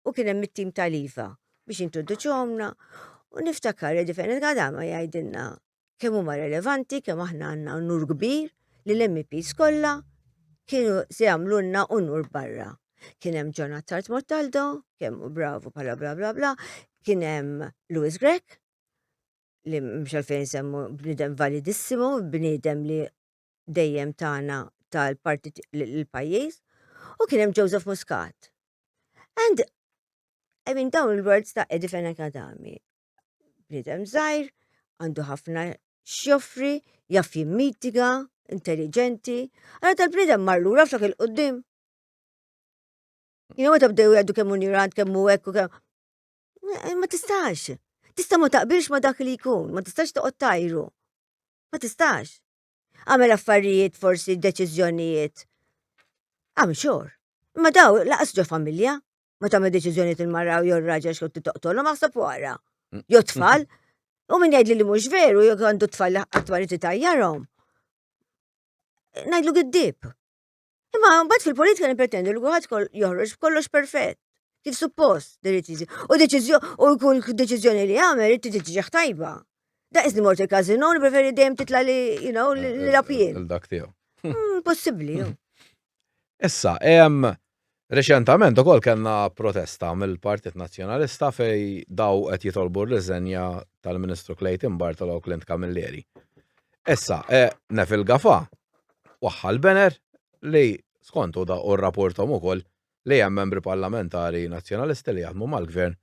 u kienem mit-tim tal-IVA biex introduċu għomna u niftakar Edi Fena Kadami jgħidilna kemm huma relevanti, kemm aħna għandna unur kbir li l-MPs kollha kienu se jagħmlulna unur barra. Kien hemm John Attard Mortaldo, kemm bravu bħala bla bla bla, kien hemm Louis Grek, li mhux għalfejn semmu bniedem validissimu, bniedem li dejjem tagħna tal-parti l-pajjiż, u kien hemm Joseph Muscat. And I mean dawn il-words ta' Eddie Fenech Adami bniedem żgħir, għandu ħafna x'joffri, jaf jimmitiga, intelligenti. Għara tal-bniedem marlu raf dak il-qoddim. Jina għata bdew jgħaddu kemm unirant, kemm u ekku, kemm. Eh, ma tistax. Tista ma taqbilx ma dak li jkun, ma tistax toqgħod tajru. Ma tistax. Għamel affarijiet forsi deċiżjonijiet. Għam xor. Ma daw laqas ġo familja. ma tagħmel deċiżjoni il-mara jew ir-raġel xkont li toqtolhom aħseb wara. Mm. Jew tfal. U min jgħidli li mhux veru jew għandu tfal li qatt ma tajjarhom. Ngħidlu giddib. Imma mbagħad fil-politika nippretendu li kulħadd joħroġ kollox perfett. Kif suppost deċiżjoni. U deċiżjoni u kull deċiżjoni li għamel irid tiġi tajba. Da izni morti kazino, preferi dejjem titla li, you know, li eh, eh, lapjien. Il-dak tiegħu. Mm, possibbli, Issa, reċentament ukoll kellna protesta mill-Partit Nazzjonalista fejn dawn qed jitolbu r-riżenja tal-Ministru Clayton Bartolo u Clint Camilleri. Issa, Neville Gafà waħħal banner li skont hu r-rapporthom ukoll li hemm membri parlamentari Nazzjonalisti li jaħdmu mal-Gvern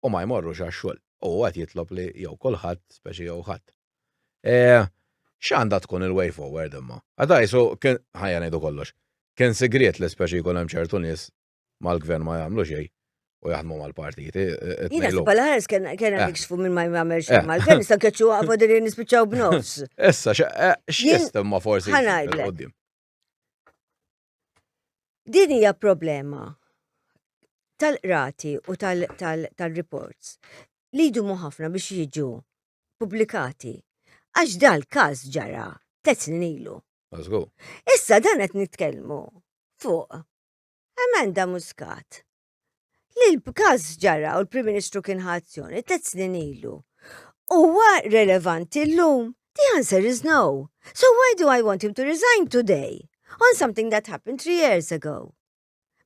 u ma jmorrux għax-xogħol u hu qed jitlob li jew kulħadd, speċi jew ħadd. X'għandha tkun il-way forward imma? Għada qisu kien ħajja ngħidu kollox. Kien sigriet li speċi jkun hemm ċertu nies mal-gvern ma jagħmlu xejn u jaħdmu mal-partiti. Jina s ħares kien hemm eh. jiksfu minn ma jagħmel xejn eh. mal-gvern issa keċċu għafu din nispiċċaw b'nofs. Issa x'jistemma forsi. Ħanajdlek. Din hija problema tal-qrati u tal-reports li jdumu ħafna biex jiġu publikati. Għax dal-każ ġara tliet snin ilu. Issa dan qed nitkellmu fuq emenda muskat li l-każ ġara u l-Prim Ministru kien ħazzjoni tliet snin ilu. Huwa relevanti llum? The answer is no. So why do I want him to resign today on something that happened three years ago?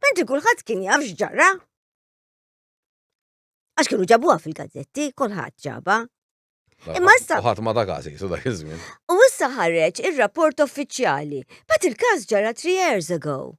Mentri kulħadd kien jaf x'ġara. Għax kienu ġabuha fil-gazzetti, kulħadd ġaba. Imma issa. Ħadd ma ta' każi, so dak iż-żmien. U issa ħareġ ir-rapport uffiċjali, bat il-każ ġara three years ago.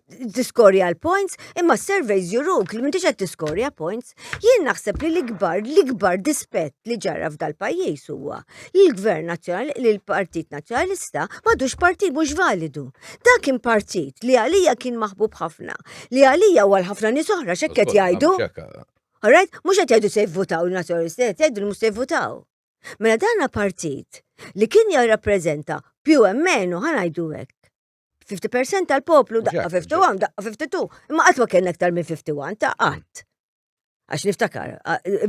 tiskorja l-points, imma surveys juruk li m'intix qed tiskorja points. Jien naħseb li l-ikbar, l-ikbar dispett li ġara f'dal-pajjiż huwa li l-Gvern Nazzjonali, li l-Partit Nazzjonalista m'għadux partit mhux validu. Dak kien partit li għalija kien maħbub ħafna, li għalija u għal ħafna nies oħra x'hekk jgħidu. Alright, mhux qed jgħidu se jivvutaw il-Nazzjonalisti, qed jgħidu mhux se jivvutaw. Mela dana partit li kien jirrappreżenta più e meno ħanajdu hekk 50% tal-poplu daqqa 51, daqqa 52, imma qatt ma kien aktar minn 51 ta' qatt. Għax niftakar,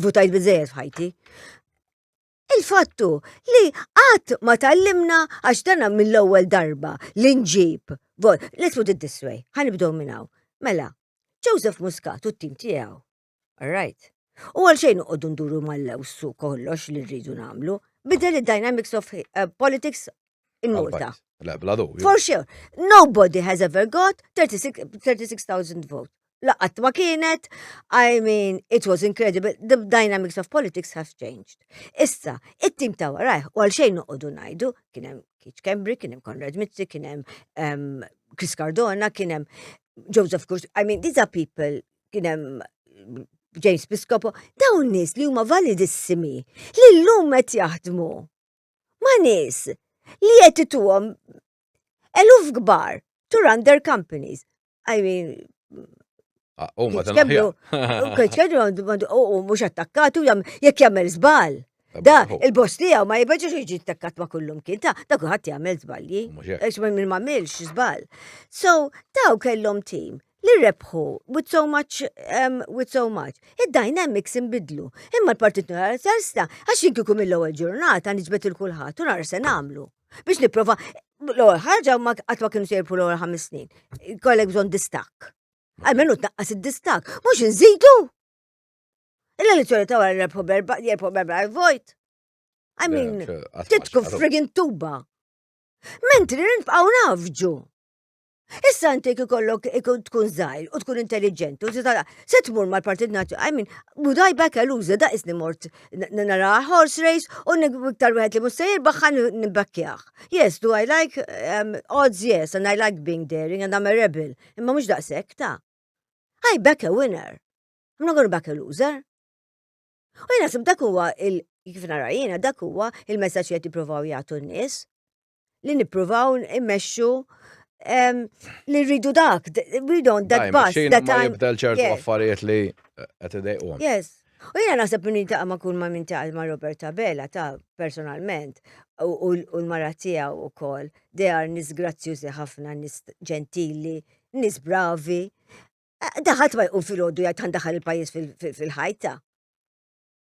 votajt bizzejed f'ħajti. Il-fattu li qatt ma tallimna għax dana mill-ewwel darba li nġib. Let's put it this way, ħanibdew minn hawn. Mela, Joseph Muscat u t-tim tiegħu All right. U għal xejn uqodu nduru mal-lewsu kollox li rridu namlu, bidel il-dynamics of uh, politics in Malta. For sure. Nobody has ever got 36,000 vote. Laqat ma kienet, I mean, it was incredible, the dynamics of politics have changed. Issa, it-tim ta' warajh, u għal xejn uqodu najdu, kienem Keith Kembri, kienem Konrad Mitzi, kienem um, Chris Cardona, kienem Joseph Kurs, I mean, these are people kien hemm James Piscopo, dawn nies li huma validissimi li llum qed jaħdmu ma' nies li qed ituhom eluf kbar to run their companies. I mean, ah, U ma t-kemlu, u mux attakkatu jam, jek jamel zbal. Da, il-boss li ma jibħġu xieġi attakkat ma kullum kien ta' da kuħat jamel zbalji. Ex ma minn ma milx zbal. So, daw kellom tim li rebħu with so much, um, with so much. Id-dynamics imbidlu. Imma l-Partit Nazzjonalista għax jien kieku mill-ewwel ġurnata niġbet il kulħadd u nara se nagħmlu. Biex nipprova l-ewwel ħaġa ma qatt ma kienu se jirbħu l-ewwel ħames snin. Kollek bżonn distakk. Għalmenu tnaqqas id-distakk, mhux inżidu. Il-elezzjoni ta' wara rebħu berba, jerbħu berba vojt. I mean, titku friggin tuba. Mentri nibqgħu nafġu. Issa inti ikollok tkun zaħir u tkun intelligent u titala se tmur mal-Partit Nazzjonali. I mean, budaj back eluża da isni mort nara horse race u iktar wieħed li mhux se jirbaħħan nibbakkjah. Yes, do I like um, odds yes and I like being daring and I'm a rebel. Imma mhux daqshekk ta'. I back a winner. I'm not gonna back a loser. U jena sib dak huwa il kif nara jiena dak huwa il-messaġġ li qed jippruvaw jagħtu n-nies. li nippruvaw immexxu li rridu dak, we don't that bus. That time. Jibda l-ċertu affarijiet li qed idejqu. Yes. U jena naħseb minn intaqa ma kun ma minn taqa ma Robert Tabella ta' personalment u l-mara tiegħu u kol. They are nis grazzjużi ħafna, nis ġentili, nis bravi. Eh, daħat ma jqum fil-ħoddu jgħid daħal il-pajis fil-ħajta.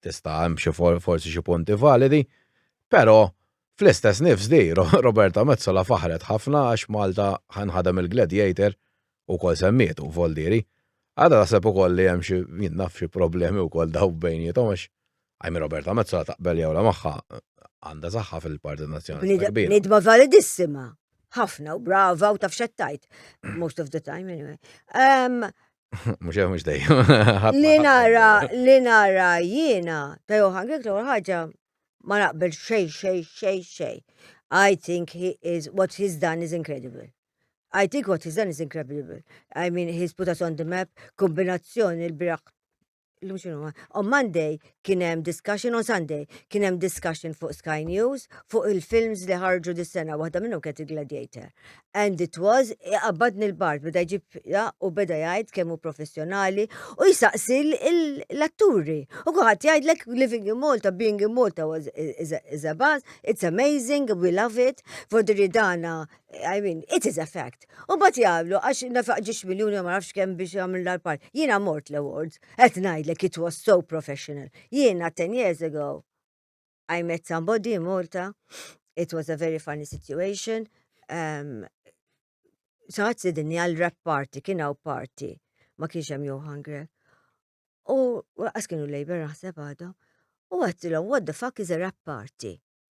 tista' hemm xi forsi xi punti validi, però fl-istess nifs di Roberta Metsola faħret ħafna għax Malta ħanħadem il-Gladiator ukoll semmietu Voldieri. Għada naħseb ukoll li hemm xi jien naf xi problemi wkoll daw bejniethom għax I mean Roberta Metzola taqbel jew la magħha għandha saħħa fil-Partit Nazzjonalista kbir. Nidma validissima. Ħafna u brava u taf xettajt. Most of the time anyway. Um, Mux għu mux dejjem. Li nara, li nara jiena, ta' Johan Grek l ħagġa ma naqbel xej, xej, xej, xej. I think he is, what he's done is incredible. I think what he's done is incredible. I mean, he's put us on the map, kombinazzjoni l-biraħ l-lum xinu On Monday kien hemm discussion, on Sunday kien hemm discussion fuq Sky News fuq il-films li ħarġu dis-sena, waħda minnhom kienet il-Gladiator. And it was, qabbadni l-bart, beda jġib u beda jgħid kemm hu professjonali u jisaqsi l-atturi. U kuħat jgħidlek living in Malta, being in Malta was is a buzz, it's amazing, we love it, for the ridana, I mean, it is a fact. U bat jgħamlu, għax nafaq ġiex miljoni ma nafx kemm biex jgħamil l park Jiena mort l-awards, qed ngħidlek it was so professional. Jiena 10 years ago, I met somebody in Malta, it was a very funny situation. Um, Saħat sidinni għal rap party, kien hawn party, ma kienx hemm Johan Grek. U għas kienu Labour naħseb għadhom. U għattilhom, what the fuck is a rap party?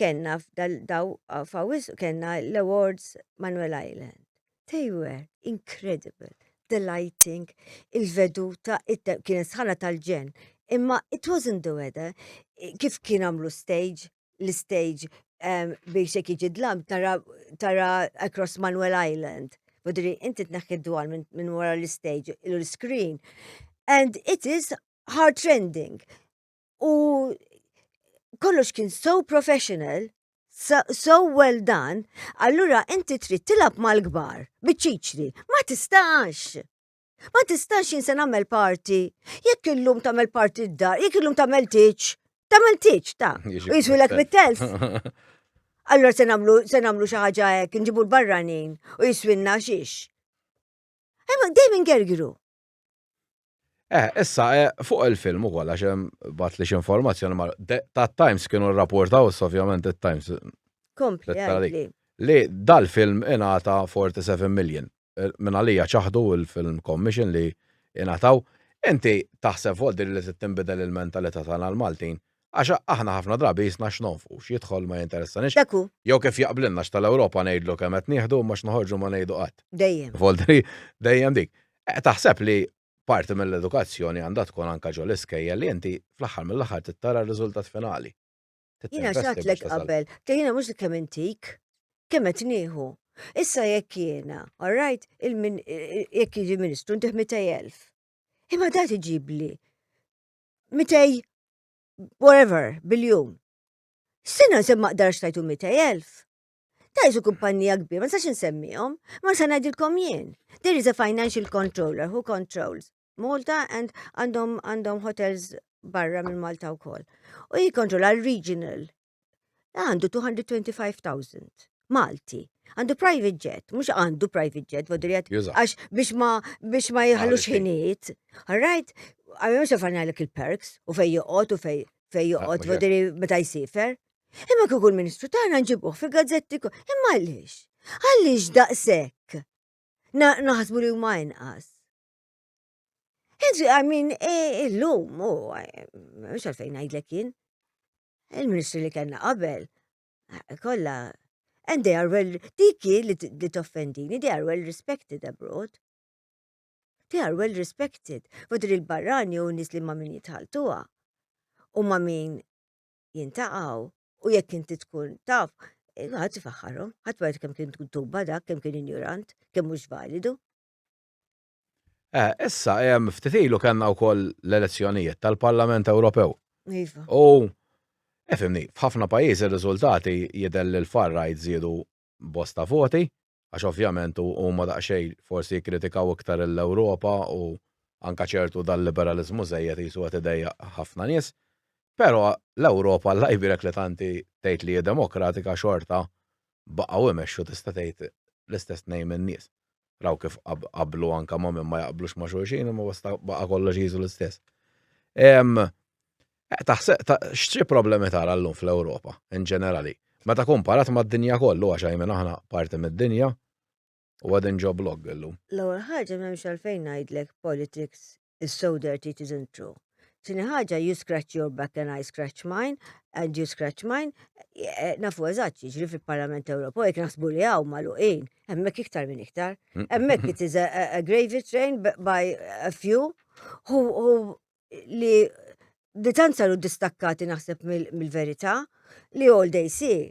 kellna daw fawis kellna l-awards Manuel Island. They were incredible, the lighting, il-veduta, kienet sħana tal-ġen. Imma it wasn't the weather, kif kien għamlu stage, l-stage ehm, biex jek iġi dlam tara, tara across Manuel Island. Budri, inti t-naħħi dwar minn wara l-stage, l-screen. And it is heart-rending. u kollox kien so professional, so, so well done, allura inti trid tilab mal-kbar, biċċiċri, ma tistax. Ma tistax jinsen nagħmel parti. Jekk illum tagħmel parti d-dar, jekk illum tagħmel tiċ, tagħmel tiċ ta' u jiswilek mit-telf. Allora se nagħmlu se nagħmlu xi ħaġa hekk, nġibu l-barranin u jiswilna xiex. Imma dejjem ingergiru. Eh, issa, eh, fuq il-film ukoll għax hemm bat li x'informazzjoni ma tat-Times kienu rrapportaw ovvjament it-Times. Kompli, kompli. Li dal-film ingħata 47 million. Eh, minn għalija ċaħdu il-film commission li ingħataw. Inti taħseb fuq din li tinbidel il-mentalità tagħna l-Maltin Għax aħna ħafna drabi qisna x'nonfqu, x'jidħol ma jinteressanix. Dak hu. Jew kif jaqblilna x'tal-Ewropa ngħidlu kemm qed nieħdu imma x'noħorġu ma ngħidu qatt. Dejjem. Voltri, dejjem dik. Taħseb li parti mill-edukazzjoni għandha tkun anke ġo l-iskejjel li inti fl-aħħar mill-aħħar trid tara r-riżultat finali. Jiena x'għedtlek qabel, ta' jiena mhux kemm intik, kemm qed nieħu. Issa jekk jiena, all right, jekk jiġi Ministru ntih 200,000. Imma da tiġibli mitej whatever biljun. Sina se ma qdarx tajtu mitej elf. Tajtu kumpanija kbir, ma sax insemmihom, ma se ngħidilkom jien. There is a financial controller who controls Malta and għandhom għandhom hotels barra minn Malta wkoll. U jikkontrolla l-regional Għandu 225,000. Malti. Għandu private jet, mux għandu private jet, vodrijet, għax biex ma biex ma jħallu xħiniet. Alright, għamil mux għafarna l il-perks, u fej joqot, u fej fej joqot, vodri meta jisifer. Imma kuku l-ministru tagħna nġibuh fi gazzetti imma għaliex? Għaliex daqshekk? Naħsbu li huma inqas. Inti għamin e, illum, u għax għalfejn għajdlek jien. Il-ministri li kellna qabel kollha and they are well diki li toffendini, they are well respected abroad. They are well respected. Fodri il-barrani u nis li ma min jitħaltuha u ma min jintaqaw u jekk inti tkun taf, eh, ħadd ifaħħarhom, ħadd ma kem kien tuba dak, kemm kien injurant, kemm mhux validu. Eh, issa, hemm ftit ilu kellna wkoll l-elezzjonijiet tal-Parlament Ewropew. Iva. U efimni, eh, f'ħafna pajjiżi r-riżultati jidher li l-far right żiedu bosta voti, għax ovvjament huma daqsxejn forsi jikkritikaw iktar l-Ewropa u anka ċertu dal-liberalizmu żejjed jisu qed idejja ħafna nies. Però l-Ewropa l-lajbirek li tanti tgħid li hija demokratika xorta baqgħu imexxu tista' tgħid l-istess nejn in-nies. raw kif qablu anka ma' minn ma jaqblux ma' xulxin, ma basta baqa kollox jizu l-istess. Taħseb, xċi problemi tara l-lum fl-Europa, in ġenerali? Meta komparat ma' d-dinja kollu, għax għajmen aħna parti mid dinja, u għadin ġo blog l-lum. L-għol ħagġa memx għalfejn najdlek politics is so dirty it isn't true. Tini ħaġa, you scratch your back and I scratch mine, and you scratch mine, e, e, nafu eżatt jiġri fil-Parlament Ewropew, jek naħsbu li għaw maluqin, emmek iktar minn iktar. Mm. Emmek it is a, a gravy train by a few who, who li ditanza lu distakkati naħseb mill-verita li all they see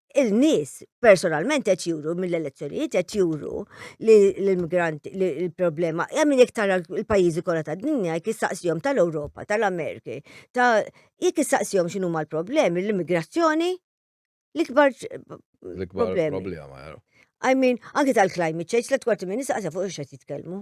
il-nies personalment qed juru mill-elezzjonijiet qed juru li l-immigrant li l-problema hija min jekk tara l-pajjiżi kollha tad-dinja jekk issaqsihom tal-Ewropa, tal-Ameriki, ta' jekk issaqsihom x'inhu l-problemi, l-immigrazzjoni l-ikbar problema. I mean, anki tal-climate change, tliet kwarti minn nisa fuq x'qed jitkellmu.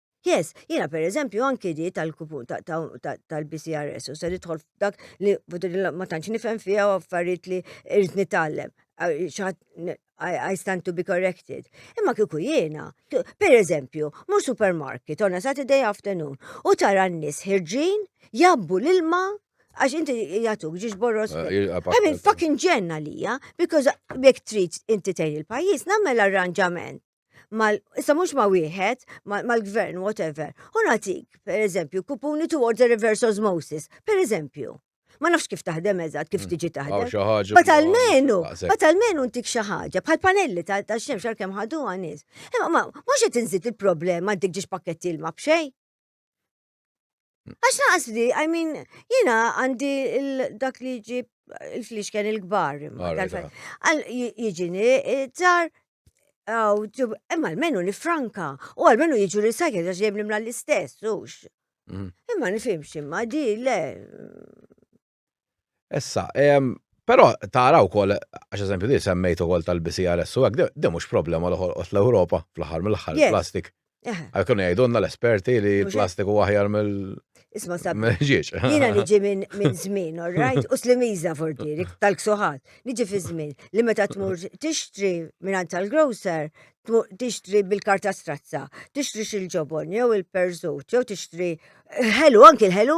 Yes, jiena per eżempju anki di tal-kupun tal-BCRS u se nidħol f'dak li ma tantx nifhem fiha u affarijiet li irrid nitgħallem. I stand to be corrected. Imma kieku jiena, per eżempju, mu supermarket on a Saturday afternoon u tara n-nies ħirġin jabbu l-ilma għax inti jatuk ġiġ borros. Eh, I mean, fucking ġenna lija, because jek trid inti tgħin il-pajjiż, nagħmel arranġament mal, issa mhux ma' wieħed, mal-gvern, whatever, u nagħtik, per eżempju, kupuni towards a reverse osmosis, per eżempju. Ma nafx kif taħdem eżatt, kif mm. tiġi taħdem. Bat almenu, bat almenu ntik xi ħaġa, bħal panelli ta' xemx għal kemm ħadu għanis. Imma mhux qed inżid il-problema dik ġiex pakketti l-ma b'xejn. Għax naqas li, I mean, jina għandi dak li ġi il-flix kien il-gbar. Għal jġini, tar, għaw, imma l-menu li franka, u għal-menu jġu recycle, għax jemni mla l-istess, ux. Mhm. Imma nifimx, imma di, le. Issa, ehm, però tara wkoll għax eżempju li semmejt ukoll tal-BCRS u hekk de mhux problema l ħolqot l-Ewropa fl-aħħar mill-aħħar plastik. Għal kienu jgħidulna l-esperti li plastik u aħjar mill Isma sab. Ġieġ. Jina niġi minn min żmien, all right? U slimiza fortiri, tal-ksuħat. Niġi fi żmien li meta tmur tixtri minn tal-grocer, tixtri bil-karta strazza, tixtri xil-ġobon, jew il-perżut, jew tixtri ħelu, anki l-ħelu.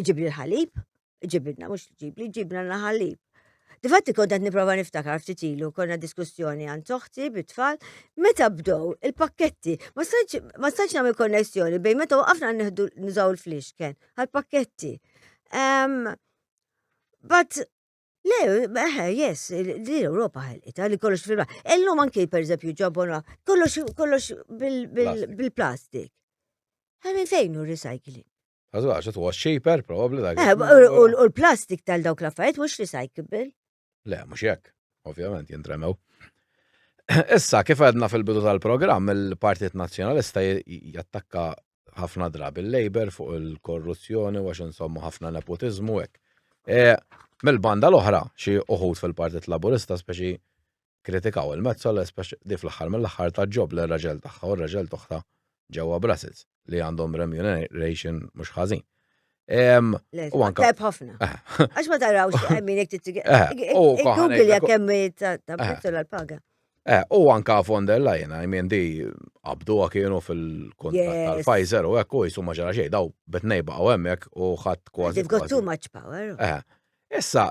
iġibli l-ħalib, iġibidna, mux ġibli, ġibna l-ħalib. Difatti kont qed niprofa niftakar ftit ilu, konna diskussjoni għan toħti bit-tfal, meta bdow il-pakketti, ma stanċ nagħmel konnessjoni bejn meta waqafna nieħdu nużaw il-flixken għal-pakketti. But Le, eħe, yes, li l-Europa ħelqita li kollox fil Illum anki, per eżempju, ġobona, kollox bil-plastik. Għamin fejn u recycling? Għazwax, it was cheaper, probably. Like, eh, u l-plastik tal dawk l-affarijiet mhux recyclable. Le, mhux jekk, ovvjament jintremew. Issa, kif għedna fil-bidu tal-programm, il-Partit Nazzjonalista jattakka ħafna drabi l-Labor fuq il-korruzzjoni, għax insomma ħafna nepotizmu hekk. Eh, mill-banda l-oħra, xi uħud fil-Partit Laburista, speċi Kkritikaw il-Metsola spex li fl-aħħar mill-aħħar tat ġob lir-raġel tagħha u r-raġel t'oħtha ġewwa Brussels li għandhom remuneration mhux ħażin. Tajb ħafna. Eh. Għax ma tarawx għemmin jek t Google jek għemmi ta' prezzu eh. l-paga. Eh, u anka von der Leyen, I mean, di abdu kienu fil-kontrat tal-Pfizer u ekku jisu maġara xej, daw betnej baqaw emmek u ħat kważi. They've got too much power. Issa,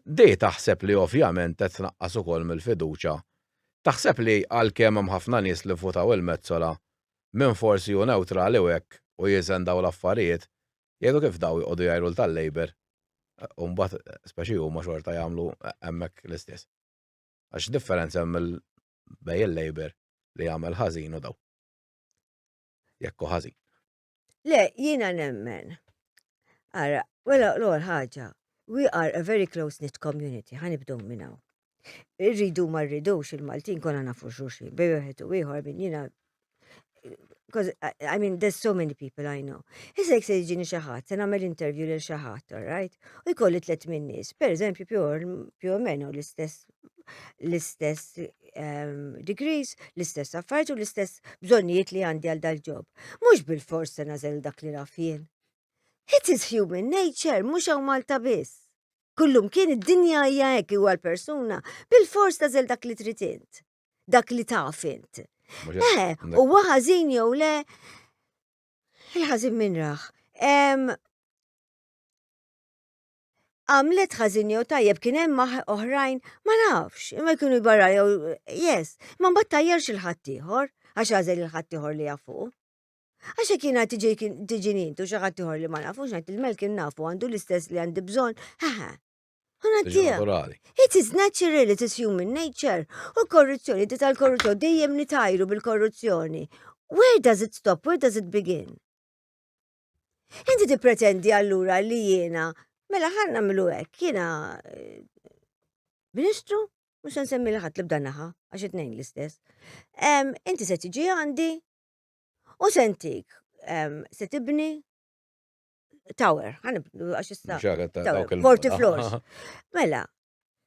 di taħseb li ovvjament qed tnaqqas ukoll mill-fiduċja. Taħseb li għalkemm hemm ħafna nies li vvutaw il-Metsola, min forsi hu newtrali u hekk u jeżen dawn l-affarijiet, jgħidu kif dawn joqogħdu jgħajru tal-Labour u mbagħad speċi huma xorta jagħmlu hemmhekk l-istess. Għax x'differenza hemm bejn il-Labour li jagħmel ħażin u dawn. Jekk hu ħażin. Le, jiena nemmen. Ara, wela l-għor ħaġa, we are a very close-knit community, ħanibdow minnaw. Irridu ma rridux il-Maltin konna nafu xurxin, bej uħet u ieħor minn jiena because I mean there's so many people I know. Issa jek se jġini xi ħadd, se nagħmel interview lil xi ħadd, all right? U jkolli tliet minn nies, pereżempju più o meno l-istess l-istess ehm, degrees, l-istess affarijiet u l-istess bżonnijiet li għandi għal dal-ġob. Mhux bil-fors se nażel dak li raf jien. It is human nature, mhux hawn Malta biss. Kullum kien id-dinja hija hekk huwa l-persuna bil-fors tażel dak li trid int, dak li taf int. Eh, u ħażin jew le, il-ħażin minn raħ. għamlet ħażin jew tajjeb kien hemm oħrajn ma nafx, imma jkunu jbarra jew yes, ma mbagħad tajjerx il-ħadd ieħor għax għażel il-ħadd ieħor li jafu. Għax hekk jiena tiġi nintu xi ħadd ieħor li ma nafux ngħid il-mel kien nafu għandu l-istess li għandi bżonn, ħaħa. It is natural, it is human nature. U korruzzjoni, di tal-korruzzjoni, dejjem nitajru bil-korruzzjoni. Where does it stop? Where does it begin? Inti tippretendi allura li jiena, mela ħanna milu hekk, jiena eh, Ministru, mhux nsemmi li ħadd li bda naħa, għax it-tnejn l-istess. Inti se tiġi għandi u sentik se tibni tower, għax issa. Forty floors. Mela,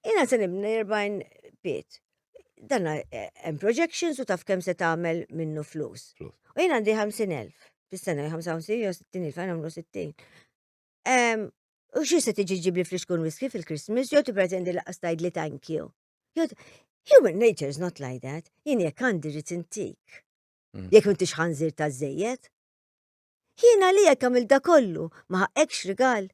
Jina se nibni 40 bit. Dan eh, hemm projections u taf kemm se tagħmel minnu flus. U jien għandi 50,000 fis-sena 55 jew 60,000 għan għamlu 60. U xi se tiġi ġibli flix kun whisky fil-Christmas jew tippretendi laqas tgħid li thank you. Human nature is not like that. Jien jekk għandi rrid intik. Mm. Jekk m'intix ħanżir ta' żejjed. Jiena li jekk għamil da kollu ma ħaqekx rigal.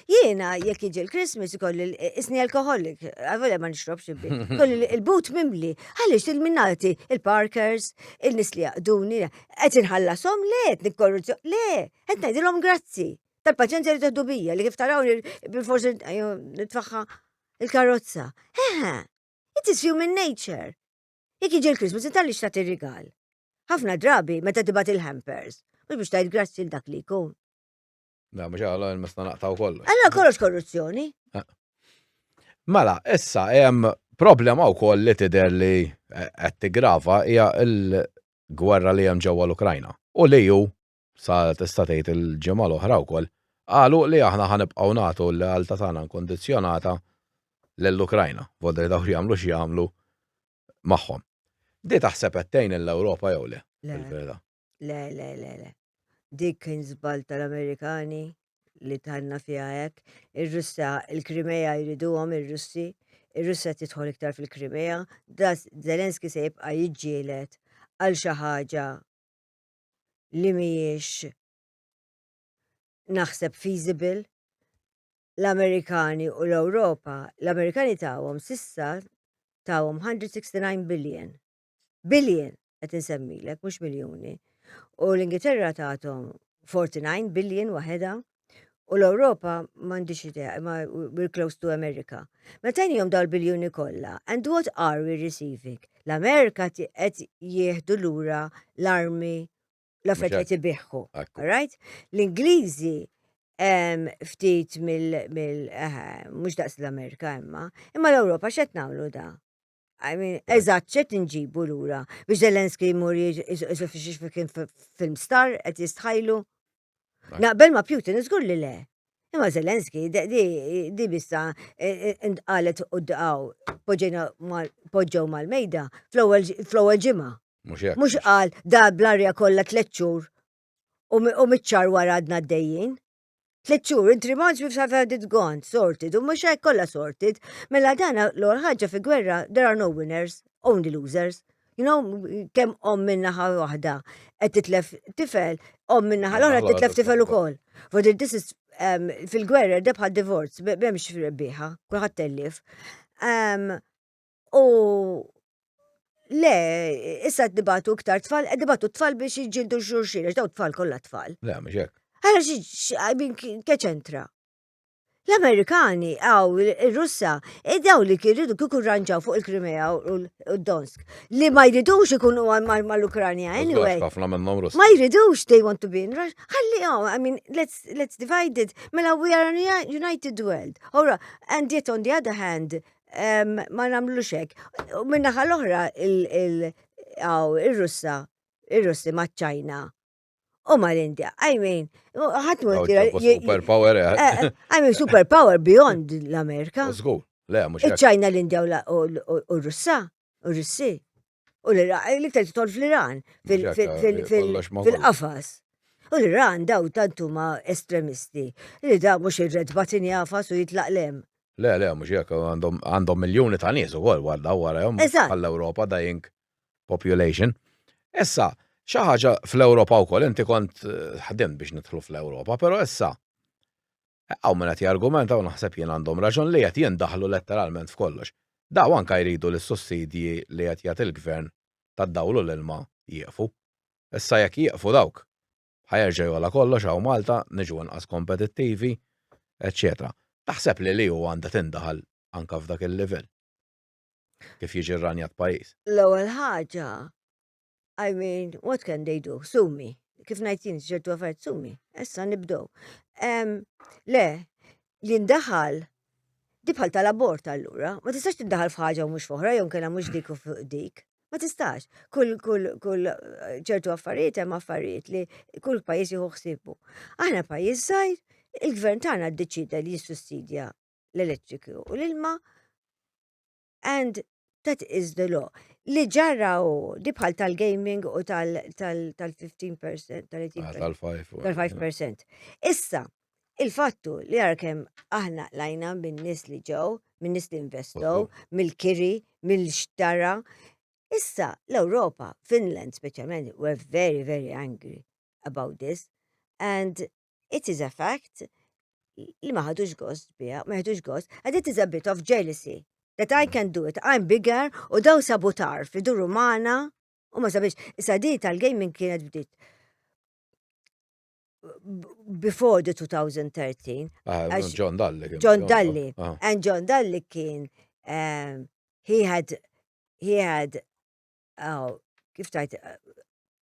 Jiena jekk jiġi l-Christmas kolli isni alkoholik, għavole ma nixrobx ibbi. Kolli il-but mimli, għaliex il-minnati, il-parkers, il-nis li jaqduni, qed inħallasom le, qed nikkorruzzju, le, qed ngħidilhom grazzi. Tal-paċenzja li teħdu bija, li kif taraw li bil-forsi nitfaħħa il-karozza. Eħe, it is human nature. Jekk jiġi l-Christmas, intalli xtat ir-rigal. Ħafna drabi meta tibat il-hampers, mhux biex tajt grazzi l-dak li jkun. Da, mux għallu, il-mesta naqtaw kollu. Għallu kollox korruzzjoni. Eh. Mela, issa, jem problema u koll li tider li eh, għetti grava hija il-gwerra li jem ġewwa l-Ukrajna. U li ju, sa tista' tgħid il-ġimgħa l-oħra wkoll, qalu li aħna ħanibqgħu nagħtu l-għalta tagħna nkondizjonata l-Ukrajna, vodda li dawk jagħmlu x'jagħmlu magħhom. Di taħseb għettejn l-Ewropa jew le? Le, le, le, le. Dik kien żball tal-Amerikani li tħanna fiha hekk. Ir-Russja, il-Krimea jriduhom ir-Russi, ir-Russja tidħol iktar fil-Krimea, das Zelenski se jibqa' jiġġielet għal xi ħaġa li mhijiex naħseb feasible l-Amerikani u l-Ewropa, l-Amerikani tawhom sissa tawhom 169 billion Billion qed insemmilek mhux miljuni. U l-Ingilterra tagħthom 49 billion waħedha u l-Ewropa m'għandix idea, imma we're close to America. Meta jnihom daw l-biljuni kollha, and what are we receiving? L-Amerika qed jieħdu lura l-armi l-affarijiet li tibiħħu. Right? L-Ingliżi ftit mill mhux daqs l-Amerika imma, imma l-Ewropa x'qed nagħmlu da? I mean, eżatt, ċet nġibu l-ura. Biex Zelenski jmur jisu kien film star, għet jistħajlu. Naqbel ma Putin, zgur li le. Imma Zelenski, di bissa, għalet u d-għaw, poġġew mal-mejda, fl-ewel ġimma. Mux għal, da bl-arja kolla tletxur, u mitċar wara għadna d-dejjien. Tliet xhur, inti rimanġ biex have had it gone, sorted, u mhux hekk kollha sorted. Mela dana l-għol ħaġa fi gwerra, there are no winners, only losers. You know, kemm om minnaħa waħda qed titlef tifel, om minnaħa l-oħra titlef tifel ukoll. But this is um, fil-gwerra debħa divorz, b'hemmx rebbieħa, kulħadd tellif. Um, U le, issa dibatu iktar tfal, eh, dibatu tfal biex jġildu xurxin, għax daw tfal kollha tfal. Le, mhux hekk. Għara xi keċentra. L-Amerikani għaw il-Russa e daw li kirridu kiku ranġaw fuq il-Krimea u l-Donsk. Li ma jridux ikunu ma l-Ukranja, anyway. Ma jridux they want to be in Russia. Għalli għaw, oh, I mean, let's, let's divide it. Mela we are a united world. Ora, and yet on the other hand, ma nagħmlux hekk. U min-naħa l-oħra il-Russa, ir-Russi maċ-Ċajna u ma l-Indja. I mean, ħadd ma Super power. Eh. Eh, eh, I mean, super power beyond l-Amerika. Żgur. Le, mhux. Iċ-Ċajna l-Indja u r-Russa. u Russi. U l-Iran, eh, l-iktar titol fl-Iran, fil-qafas. U l-Iran daw tantu ma estremisti, li da mux irred batin jafas u jitlaq lem. Le, le, mux jek, għandhom miljoni ta' nies u għol, għadda u għara jom, għall-Europa da jink population. Issa, xaħġa fl-Europa u kol, inti kont eh, ħdim biex nitħlu fl-Europa, pero issa, Hawn min qed jargumenta u naħseb jien għandhom raġun li qed jindaħlu letteralment f'kollox. Daw anke jridu li s-sussidji li qed jagħti l-Gvern tad-dawl u l-ilma jieqfu. Issa jekk jieqfu dawk, ħa jerġa' jogħla kollox hawn Malta, niġu inqas kompetittivi, eċċetera. Taħseb li li hu għandha tindaħal anke f'dak il-livell? Kif jiġi rranjat pajjiż? L-ewwel ħaġa, I mean, what can they do? Sumi. Kif ngħid jien ċertu affarijiet sumi. Issa nibdew. Le, li ndaħal di bħal tal-abort allura, ma tistax tiddaħal f'ħaġa u mhux f'oħra jew kellha mhux dik u fuq dik. Ma tistax. Kull kull kull eh, ċertu affarijiet hemm affarijiet li kull pajjiż jieħu ħsibu. Aħna pajjiż żgħir, il-gvern tagħna ddeċida li jissussidja l-elettriku u l-ilma and that is the law. Li ġarra u di bħal tal-gaming u tal-15%, tal-5%. Tal-5%. Issa, il-fattu li għarkem aħna lajna minn nis li ġew, minn nis li investow, mill-kiri, mill-xtara. Issa, l-Europa, Finland specialment, were very, very angry about this. And it is a fact li ma ħadux gost biha, ma ħadux gost, and it is a bit of jealousy that I can do it, I'm bigger u daw sabu tarf li duru maħna u ma sabiex, issa di tal-gaming kienet bdiet before the 2013. Ah, John Dalli. John Dalli. Ah. And John Dalli kien, um, he had, he had uh, kif tajt, uh,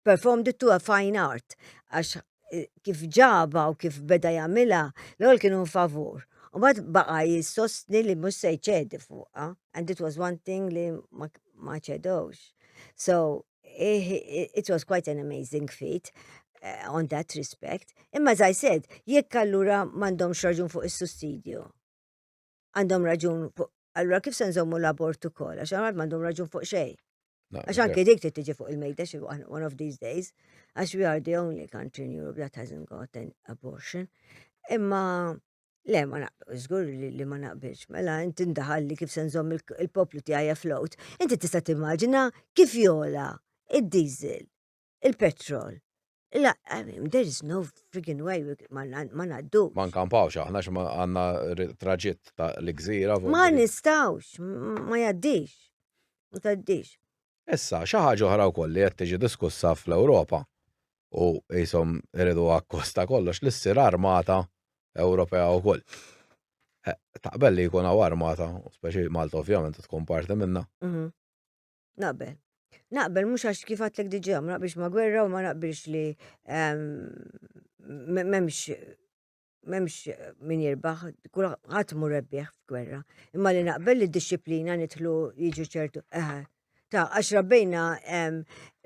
performed it to a fine art, għax uh, kif ġaba u kif beda jamila, l-għol kienu favur. U bad baqa jistosni li mus se ċedi fuqa, and it was one thing li ma ċedowx. So, eh, it was quite an amazing feat. Uh, on that respect. Imma as I said, jekk allura m'għandhomx raġun fuq is-sussidju. għandhom raġun fuq. Allura kif se nżommu l-abort ukoll għax għamad m'għandhom raġun fuq xejn. Għax anke dik trid tiġi fuq il-mejda xi one of these days għax we are the only country in Europe that hasn't got an abortion. Imma Le, ma naqbilx, żgur li ma naqbilx. Mela, inti ndaħal li kif se nżomm il-poplu tiegħi float. Inti tista' timmaġina kif jola id-diesel il-petrol. La, I mean, there is no friggin' way we- ma na- ma naddux. Ma nkampawx aħna x'ma għandna r- traġitt ta' l-gżira. fuq Ma il-brid. nistawx, m- ma jaddix. Ma taddix. Issa, xi ħaġa oħra wkoll li qed tiġi diskussa fl-Ewropa u qishom iridu akkost ta' kollox li ssir armata Ewropea wkoll. Eh, Taqbel li jkun hawn armata, u speċi Malta ovvjament tkun parti minnha. Mhm. Naqbel. Naqbel mhux għax kif għatlek diġà ma naqbilx ma' gwerra u ma naqbilx li ehm, m'hemmx m'hemmx min jirbaħ, kulħadd mur rebbieħ f'gwerra. Imma li naqbel li d-disciplina nidħlu jiġu ċertu eħe. Ta' għax rabbejna ehm,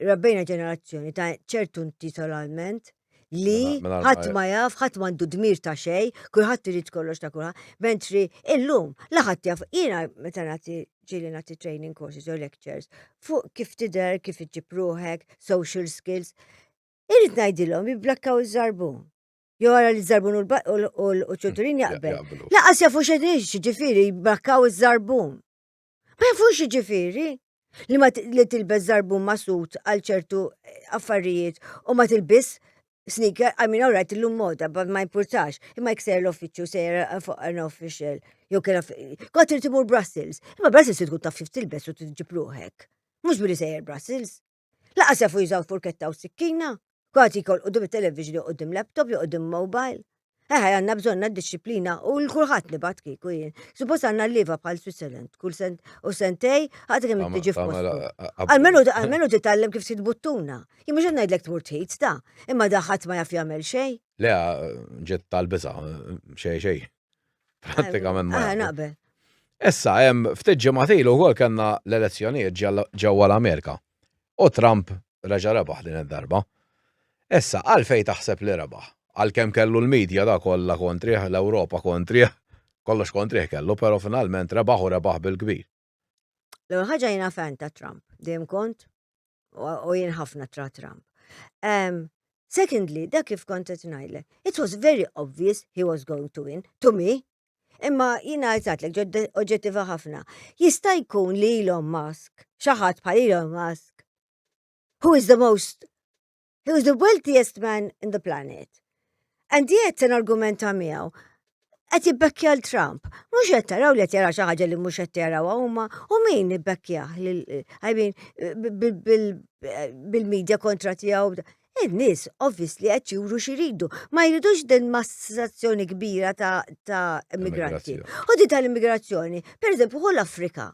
rabbejna ġenerazzjoni ta' ċertu intitolalment li Mela- mela- ħadd ma jaf, ħadd m'għandu dmir ta' xej, kulħadd irid kollox ta' kulħadd. Mentri illum la ħadd jaf, jiena meta nagħti ġieli nagħti training courses jew lectures fuq kif tidher, kif iġġib ruħek, social skills. Irid ngħidilhom jibblakkaw iż-żarbun. Jew ara li żarbun u l-ba- u l- u l- u ċuturin jaqbel. Jaqblu. Laqas jafu xedin ġifiri jibblakkaw iż-żarbun. Ma jafux jiġifieri li ma li tilbes zarbun masut għal ċertu eh, affarijiet u ma tilbis sneaker, I mean, alright, l-lum moda, but ma importax, imma jek sejr l-offiċu, sejr fuq an official, jew kena, għat irtimur Brussels, imma Brussels tkun taf xif tilbes u t-ġipruħek. Mux billi sejr Brussels, Laqas jafu jużaw furketta u sikkina, kważi jkol qudiem it-television jew qudiem laptop jew qudiem mobile. Eħe, għanna bżonna disċiplina u l-kulħadd nibat kieku jien. Suppost għanna l-liva bħal Switzerland, kull sent u sentej, għad kemm tiġi f'postu. Għalmenu għalmenu titgħallem kif sid buttuna. Jien mhux ngħidlek tmur tħid ta, imma daħħat ma jaf jagħmel xejn. Le, ġiet tal-biża, xejn xejn. Pratikament ma. Ah, naqbel. Issa, hemm ftit ġimgħatil ukoll kellna l-elezzjonijiet ġewwa l-Amerika. U Trump reġa' rebaħ din id-darba. Issa, għalfej taħseb li rebaħ? Għalkemm kellu l-medja da kollha kontrih, l-Ewropa kontrih, kollox kontrih kellu, però finalment rebaħ u rebaħ bil-kbir. L-ewwel ħaġa jiena fan ta' Trump, dejjem kont u jien ħafna tra Trump. Um, secondly, dak kif kont qed ngħidlek, it was very obvious he was going to win to me. Imma jiena għajtatlek ġodda oġġettiva ħafna. Jista' jkun li Elon Musk, xi ħadd bħal Elon Musk, who is the most He was the wealthiest man in the planet. And yet, sen argumenta miegħu, qed jibbekkja l-Trump. Mhux qed taraw li qed jara xi ħaġa li mhux qed jaraw huma u min ibbekkja I mean bil-medja kontra tiegħu. In-nies obviously qed juru xi jridu. Ma jridux din massazzjoni kbira ta' immigranti. U din tal-immigrazzjoni, pereżempju, hu l-Afrika.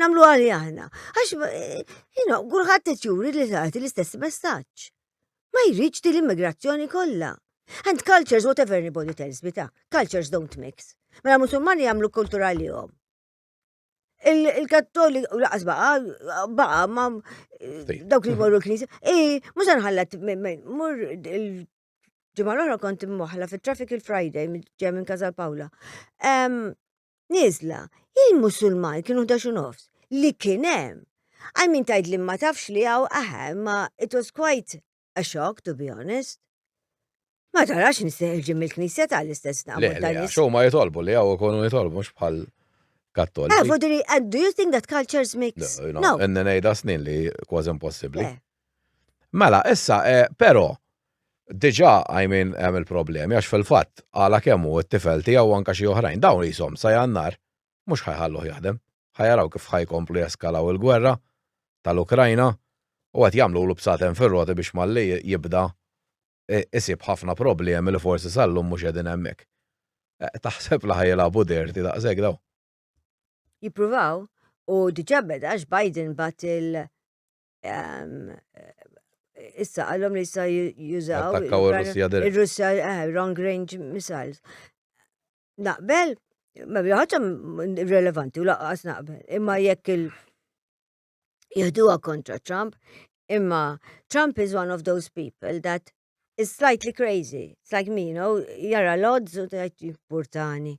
Namlu għali aħna. Għax, eh, you know, għurħat t-tjuri li taħti l-istess messaċ. Ma jridx di l-immigrazzjoni kollha. And cultures, whatever anybody tells me ta', cultures don't mix. Mela musulmani jagħmlu kultura li jom. Il-kattoli u laqas baqa, baqa, ma dawk li morru l-knisja. Ej, mux għanħallat, mur ġimgħa l-oħra kont imwaħla fit-traffic il-Friday ġej minn Kazal Pawla. Nizla, il-Musulman kienu 11 nofs li kien hemm. Għal min tajt li ma tafx li għaw aħe, ma it was quite a shock to be honest. Ma tarax nisteħil ġim il-knisja tal-istess naqbel tal-istess. Xo ma jitolbu li għaw ikonu jitolbu mux bħal kattol. Eh, vodri, and do you think that cultures mix? No, no. N-nejda snin li kważi impossibli. Eh. Mela, issa, eh, però, diġà I mean hemm il-problemi għax fil-fatt għala kemm hu t-tifel tiegħu anke xi oħrajn dawn qishom sa Jannar mhux ħa jħalluh jaħdem. Ħa jaraw kif ħa jkomplu jeskalaw il-gwerra tal-Ukrajna u qed jagħmlulu bsaten fir-roti biex malli jibda eh, isib ħafna problemi li forsi sal-lum mhux qegħdin hemmhekk. Eh, taħseb li ħa jilagħbu dirti daqshekk daw. Jippruvaw u diġà beda għax Biden bat il- Issa għallom li issa jużaw. Il-Russja, eh, long range missiles. Naqbel, ma ħaġa relevanti u laqqas naqbel. Imma jekk il- jihduwa kontra Trump, imma Trump is one of those people that is slightly crazy. It's like me, you know, jara l-odds u tajt jipportani.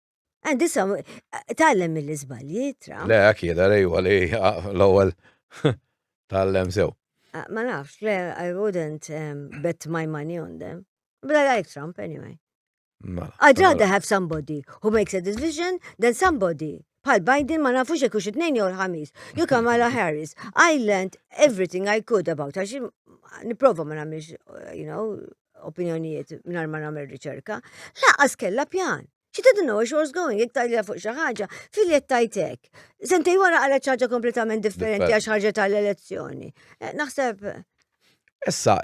Għandi sa, tallem mill-izbalji, tra. Le, għak jeda li huwa li l-ewwel tallem sew. Ah, ma nafx, le, I wouldn't um, bet my money on them. But I like Trump anyway. Mela, I'd mela. rather have somebody who makes a decision than somebody bħal Biden ma nafux jekk xi tnejn jew ħamis. You Kamala Harris, I learned everything I could about her. Niprova ma nagħmilx, you know, opinjonijiet mingħajr ma nagħmel riċerka, laqas kellha pjan. She didn't know she was going, jek tajlija fuq xi ħaġa, filjet tajtek. Sentej wara għala ċaġa kompletament differenti għax ħarġet għall-elezzjoni. Eh, naħseb. Issa,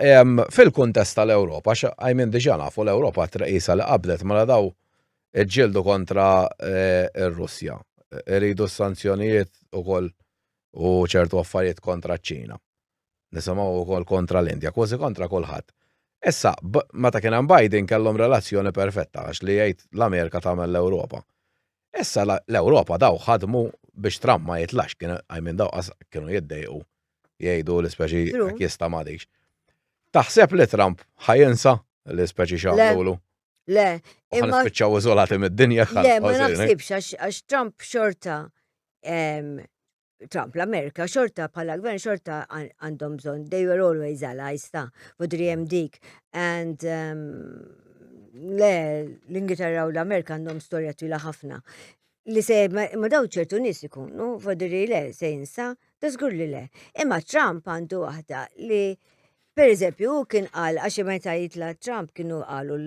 fil-kuntest tal-Ewropa, għajmin diġa nafu l-Ewropa traqisa li qabdet mela daw ġildu kontra eh, r-Russja. Iridu s-sanzjonijiet u koll u ċertu affarijiet kontra ċ-Ċina. Nisimgħu wkoll kontra l-Indja, kważi kontra kulħadd. Issa, meta kien hemm Biden kellhom relazzjoni perfetta għax li jgħid l-Amerika tagħmel l-Ewropa. Issa l-Ewropa daw ħadmu biex Trump ma jitlax kien għajmin daw kienu jiddejqu jgħidu l-ispeċi jista ma dix. Taħseb li Trump ħajinsa l-ispeċi xaqlu? Le, imma. Spiċċaw iżolati mid-dinja. Le, ma naħsibx għax Trump xorta Trump, l-Amerika xorta bħala gvern xorta għandhom bżon, they were always allies ta' fudri hemm dik. And um, le, l-Ingilterra u l-Amerika għandhom storja twila ħafna. Li se ma daw ċertu nis ikunu, fudri le, se jinsa, da li le. Imma Trump għandu waħda li Per eżempju, u kien qal għax meta jitla Trump kienu qalu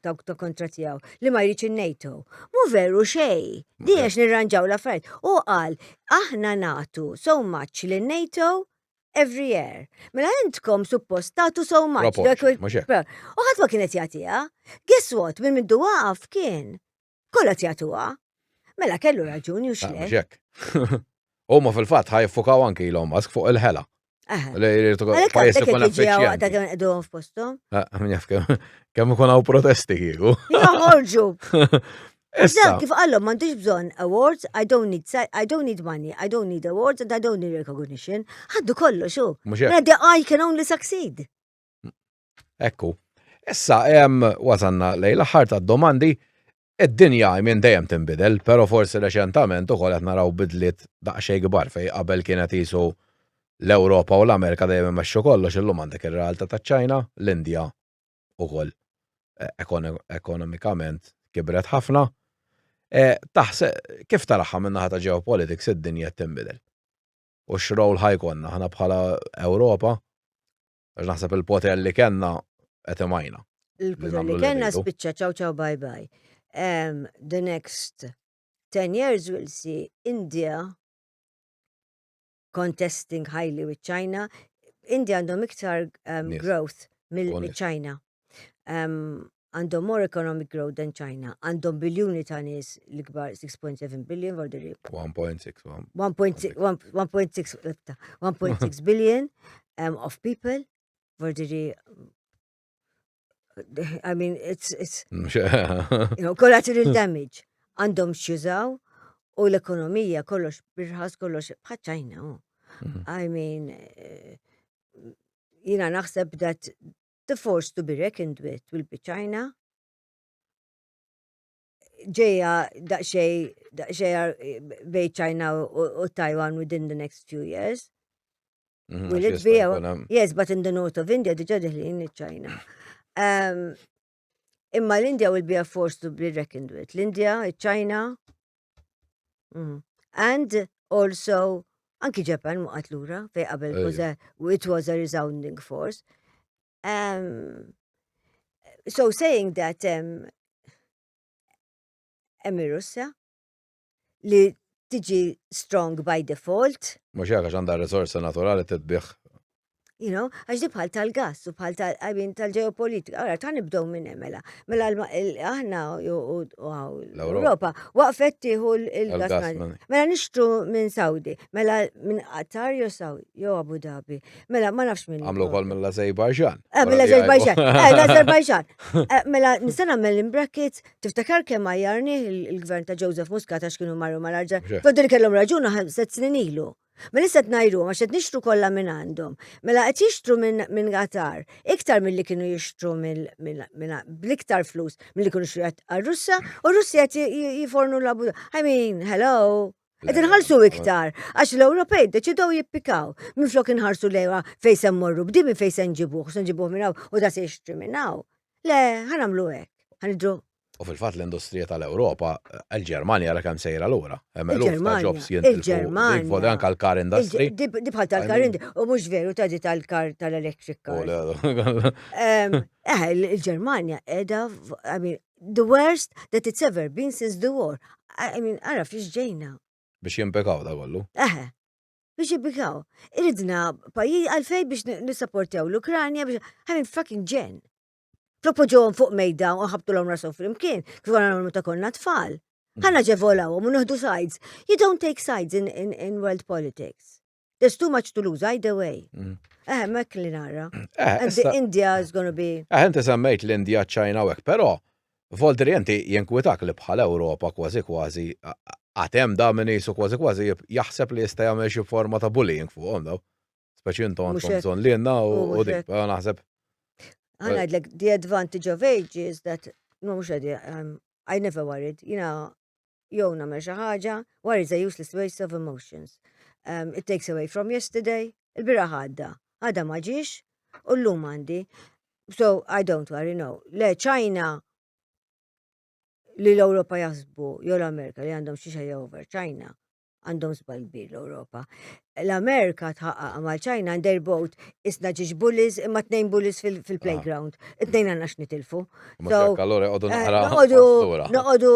dawk ta' kontra tiegħu li ma jridx in-NATO. Mu veru xej, di għax nirranġaw la fajt. U qal aħna natu so much li NATO every year. Mela intkom suppost tatu so much. U ħadd ma kienet jagħtiha. Guess what, minn mindu waqaf kien. Kollha tjatuha. Mela kellu raġun jux ah, le. Huma fil-fatt ħajfukaw anki l Musk fuq il-ħela. Pajis ikun effiċjenti. Kemm ikun hawn protesti kieku. Joħorġu. Issa, kif għallom m'għandix bżonn awards, I don't need I don't need money, I don't need awards and I don't need recognition. Ħaddu kollu xu. Mela the I can only succeed. Ekku. Issa, wasanna lej l-aħħar ta' domandi, id-dinja minn dejjem tinbidel, pero forsi reċentament u qed naraw bidliet daqsxejn kbar fej qabel kienet jisu l-Ewropa u l-Amerika dejjem imexxu kollox illum għandek ir-realtà taċ-Ċina, l-Indja ukoll e, ekonomikament kibret ħafna. E, Taħseb kif taraħħa minn naħa ta' geopolitics id-dinja tinbidel? U x'rowl ħajkonna ħana bħala Ewropa? Għax naħseb il-poter li kellna qed imajna. Il-poter li kellna spiċċa ċaw ċaw bye bye. Um, the next 10 years we'll see India contesting highly with China. India għandhom iktar um, growth mill-China. għandhom more economic growth than China, għandhom biljuni ta' nies l-ikbar 6.7 billion for the rib. 1.6 1.6 billion um, of people for the rib. I mean, it's, it's, mm, you know, collateral damage. Għandhom xjużaw u l-ekonomija kollox birħas kollox bħaċajna. Mm-hmm. I mean, eh, jina naħseb that the force to be reckoned with will be China. Ġeja daqxej, daqxej bej China u Taiwan within the next few years. Mhm, will it be? Yes, but in the north of India diġa diħlin il-China. Imma l-India will be a force to be reckoned with. L-India, il-China, Mm. And also, anki Japan waqat lura fej qabel it was a resounding force. Um, so saying that um, emmi Russja li tiġi strong by default. Mux jgħaka ġanda resorsa naturali t-tbiħ You know, għax di bħal tal-gas u bħal tal-għajbin tal-ġeopolitika. Għara, ta' nibdow minn emela. Mela, mela aħna u l-Europa waqfet tiħu l-gas. Mela nixtru minn Saudi, mela minn Qatar jo Saudi, jo Abu Dhabi. Mela ma nafx minn. Għamlu kol mela Azerbaijan. Eh, mela Azerbaijan. Eh, Azerbaijan. Eh, mela nistana mela in brackets, tiftakar kemm għajarni il-gvern ta' Joseph Muscat għax kienu marru mal-arġa. Fodil kellhom raġuna, set snin ilu. Ma lista qed ngħiruhom għax qed nixtru kollha minn għandhom. Mela qed jixtru minn min Qatar iktar milli kienu jixtru bl-iktar flus milli kienu xi għar-Russja u r-Russja qed jifornu l abu I mean, hello. Qed inħallsu iktar għax l-Ewropej deċidew jippikaw minflok inħarsu lejha fejn se mmorru b'dimi fejn se nġibuh, se nġibuh minn hawn u da se jixtri minn hawn. Le, ħanamlu hekk. Ħanidru U fil-fatt l-industrija tal-Ewropa, il-Ġermanja ra kemm sejra lura. Hemm eluf ta' jobs jintilfu. Vodi anke l-car industry. Dibħal tal-car industry, u mhux veru ta' di tal-car tal-electric car. Eh, il-Ġermanja qiegħda, I mean, the worst that it's ever been since the war. I mean, ara fiex ġejna. Biex jimpekaw da kollu. Eh, biex jimpekaw. Iridna pajjiż għalfej biex nisapportew l-Ukranja biex, I mean, fucking ġen. propoġuhom fuq mejda u ħabtulhom rashom flimkien, kif għana nagħmlu ta' konna tfal. Mm. Ħanna ġevolawhom u nieħdu sides. You don't take sides in, in, in world politics. There's too much to lose either way. Mm. Eh, mek li nara. Eh, And the India is going to be. Eh, inti semmejt l-India, China u pero Voldri inti jenkwitak li bħal Ewropa kważi kważi għatem da minn jisu kważi kważi jaħseb li jista' jagħmel xi forma ta' bullying fuqhom daw. Speċi intom għandkom bżonn li jenna u dik, naħseb. Għanajdlek, the advantage of age is that, no, mux għadi, um, I never worried, jina, jow namel xaħġa, worry is a useless waste of emotions. Um, it takes away from yesterday, il-bira ħadda, għadda maġiġ, u l-lum għandi. So, I don't worry, no. Le, ċajna, li l-Europa jasbu, jew l-Amerika li għandhom xiexa jew over ċajna, għandhom żball kbir l-Ewropa. L-Amerika tħaqqaq mal ċajna and their boat isna ġiġ bullies imma tnejn bullies fil-playground. Ah. It-tnejn għandna x'nitilfu. Allora għodu eh, naqra. Noqogħdu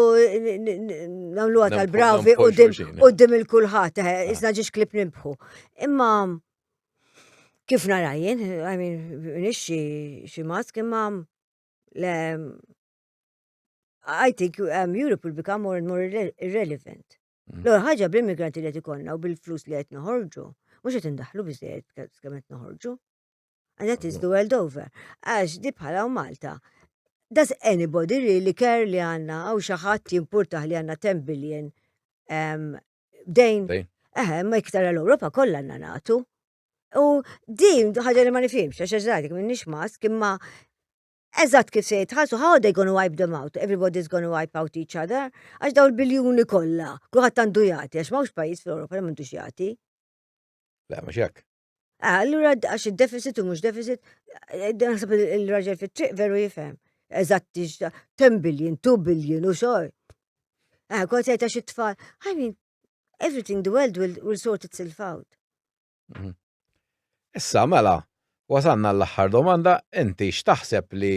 nagħmluha tal-bravi qudiem il-kulħadd, eh, ah. isna ġiġ klib nimbħu. Imma kif narajjen, I mean, nixxi xi mask imma I think um, Europe will become more and more irrelevant. Mm. L-ewwel ħaġa bl-immigranti li qed ikollna u bil-flus li qed noħorġu, mhux qed indaħlu biżejjed kemm qed noħorġu. Għandha tiżdu world over. Għax di bħala u Malta. Does anybody really care li għanna għaw xaħat jimpurtaħ li għanna 10 billion dejn? Eħe, ma iktar l-Europa kollha għanna natu. U din ħaġa li ma nifimx, għax għazadik minn nix mask, imma Eżatt kif se jitħallsu how are they gonna wipe them out? Everybody's gonna wipe out each other għax daw il-biljuni kollha, kulħadd għandu jagħti għax m'hawnx pajjiż fl-Ewropa li m'għandux jagħti. Le, mhux hekk. Ah, allura għax id-deficit u mhux deficit, eh, naħseb il-raġel fit-triq veru jifhem. Eżatt 10 billion, 2 billion u xogħol. Ah, kont jgħid għax it-tfal, I mean, everything the world will, will sort itself out. Mhm. Issa, mela, wasanna l-aħħar domanda, inti x'taħseb li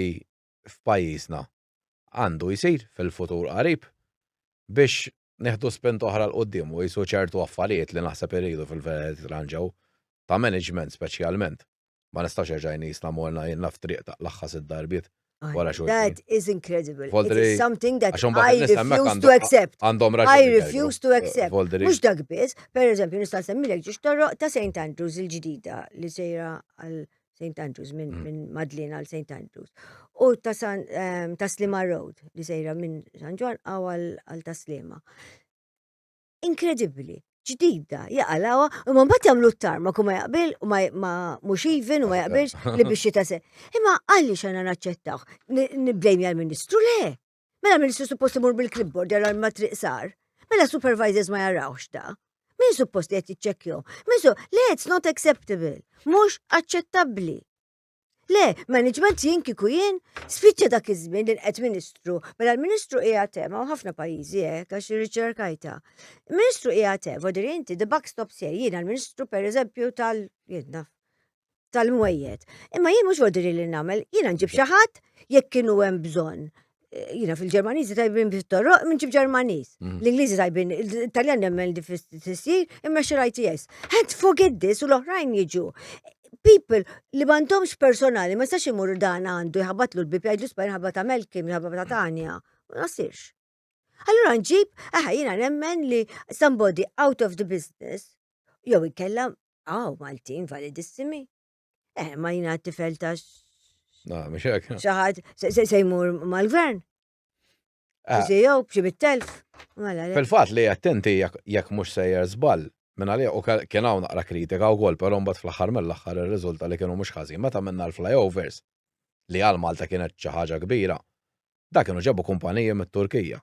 f'pajjiżna għandu jsir fil-futur qarib biex neħdu spent oħra l-qoddim u jisu ċertu affarijiet li naħseb irridu fil-veritranġaw ta' management speċjalment. Ma nistax erġaj nisna morna jenna f'triq ta' laħħas id-darbiet. Wara xogħol. That is incredible. It is something that I refuse to accept. Għandhom raġuni. I refuse to accept. Mux dak biss, per eżempju, nista' semmilek ġiex torroq ta' St. Andrews il-ġdida li sejra għal St. Andrews minn mm. min Madlin għal St. Andrews. U ta' ehm, Slima Road li sejra minn San Ġwan għal ta' Slima. Inkredibbli ġdida, jaqalawa, u ma mbagħad jagħmlu t-tarma kum ma jaqbil u ma mhux even u ma jaqbilx li biex jitase. Imma għalli xana naċċettaw, niblejmi għal-Ministru le. Mela ministru suppost imur bil-clipboard jara ma triq sar. Mela supervisors ma jarawx da. Min suppost li qed jiċċekkjom? Min su, le it's not acceptable, mhux aċċettabbli. Le, management jien kiku jien, spiċċa dak iż-żmien li qed ministru, mela l-ministru hija tema u ħafna pajjiżi hekk għax riċerkajta. Ministru hija tema, vodir inti the buck stops here, jiena l-ministru pereżempju tal jiena tal-mwejjed. Imma jien mhux vodir li nagħmel, jiena nġib xi ħadd jekk kienu hemm bżonn. jina fil-Ġermaniżi tajbin bit-torroq minn ġib Ġermaniż. Mhm. L-Ingliżi tajbin, l-Italjan nemmen li fis-sir imma xi ITS. Had forget this u l-oħrajn jiġu. People li m'għandhomx personali, ma jistax imur dan għandu jħabatlu l-bib jgħidlu spajn ħabata Melkim, ħabata Tanja. Ma nasirx. Allura nġib, aha, jina nemmen li somebody out of the business, jew ikella, għaw, Maltin validissimi. Eh, ma jina t-tifel ta' Na, mux hekk. Xaħat, se jmur mal-gvern. Ah. Sijow, bċi bit-telf. Mela, Fil-fat li attenti jekk mux sejjer zbal, minna li u kien hawn naqra kritika u għol, pero mbagħad fl-aħħar mill-aħħar ir-riżulta li kienu mhux ħażin meta minna l-flyovers li għal Malta kienet xi ħaġa kbira. Dak kienu ġabu kumpaniji mit-Turkija.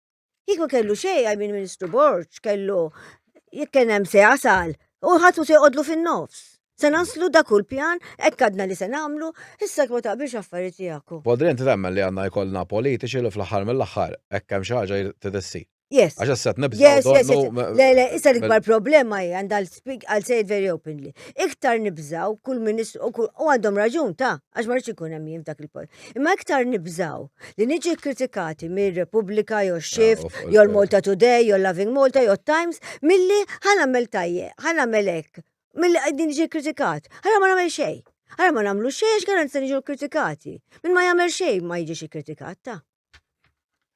Kieku kellu xejn għaj minn Ministru Borġ kellu jekk kien hemm se jasal u ħadd se jqodlu fin-nofs. Se naslu da kull pjan, hekk għadna li se nagħmlu, issa ma taqbilx affarijiet tiegħek. Bodri inti temmen li għandna jkollna politiċi li fl-aħħar mill-aħħar hekk hemm xi ħaġa trid issir. Yes. Għax issa qed nibżgħu. Yes, yes, yes. Le, le, issa l-ikbar problema hi għandha l-speak għal sejt very openly. Iktar nibżgħu kull ministru u għandhom raġun ta' għax ma rridx ikun hemm jien f'dak il-post. Imma iktar nibżaw li niġi kritikati mir Repubblika jew Shift, ah, jew l-Malta Today, jew Loving Malta, jew Times, milli ħan għamel tajje, ħan għamel hekk, milli qegħdin niġi kritikat. Ħana ma nagħmel xejn. Ħana ma nagħmlu xejn għax garanza niġu kritikati. Min ma jagħmel xejn ma jiġix ikkritikat ta'.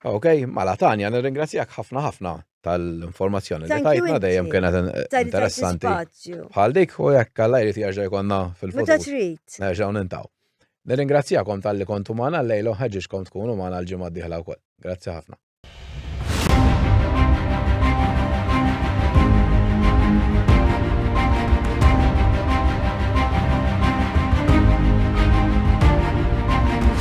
Ok, mala Tanja, nirringrazzjak ħafna ħafna tal-informazzjoni li tajtna dejjem kienet interessanti. Bħal dik u jekk għalla jrid jaġġa jkonna fil-futur. Meta trid. Nerġgħu nintaw. Nirringrazzjakom tal-li kontu magħna l-lejlu ħeġġiġkom tkunu magħna l-ġimgħa d-dieħla wkoll. Grazzi ħafna.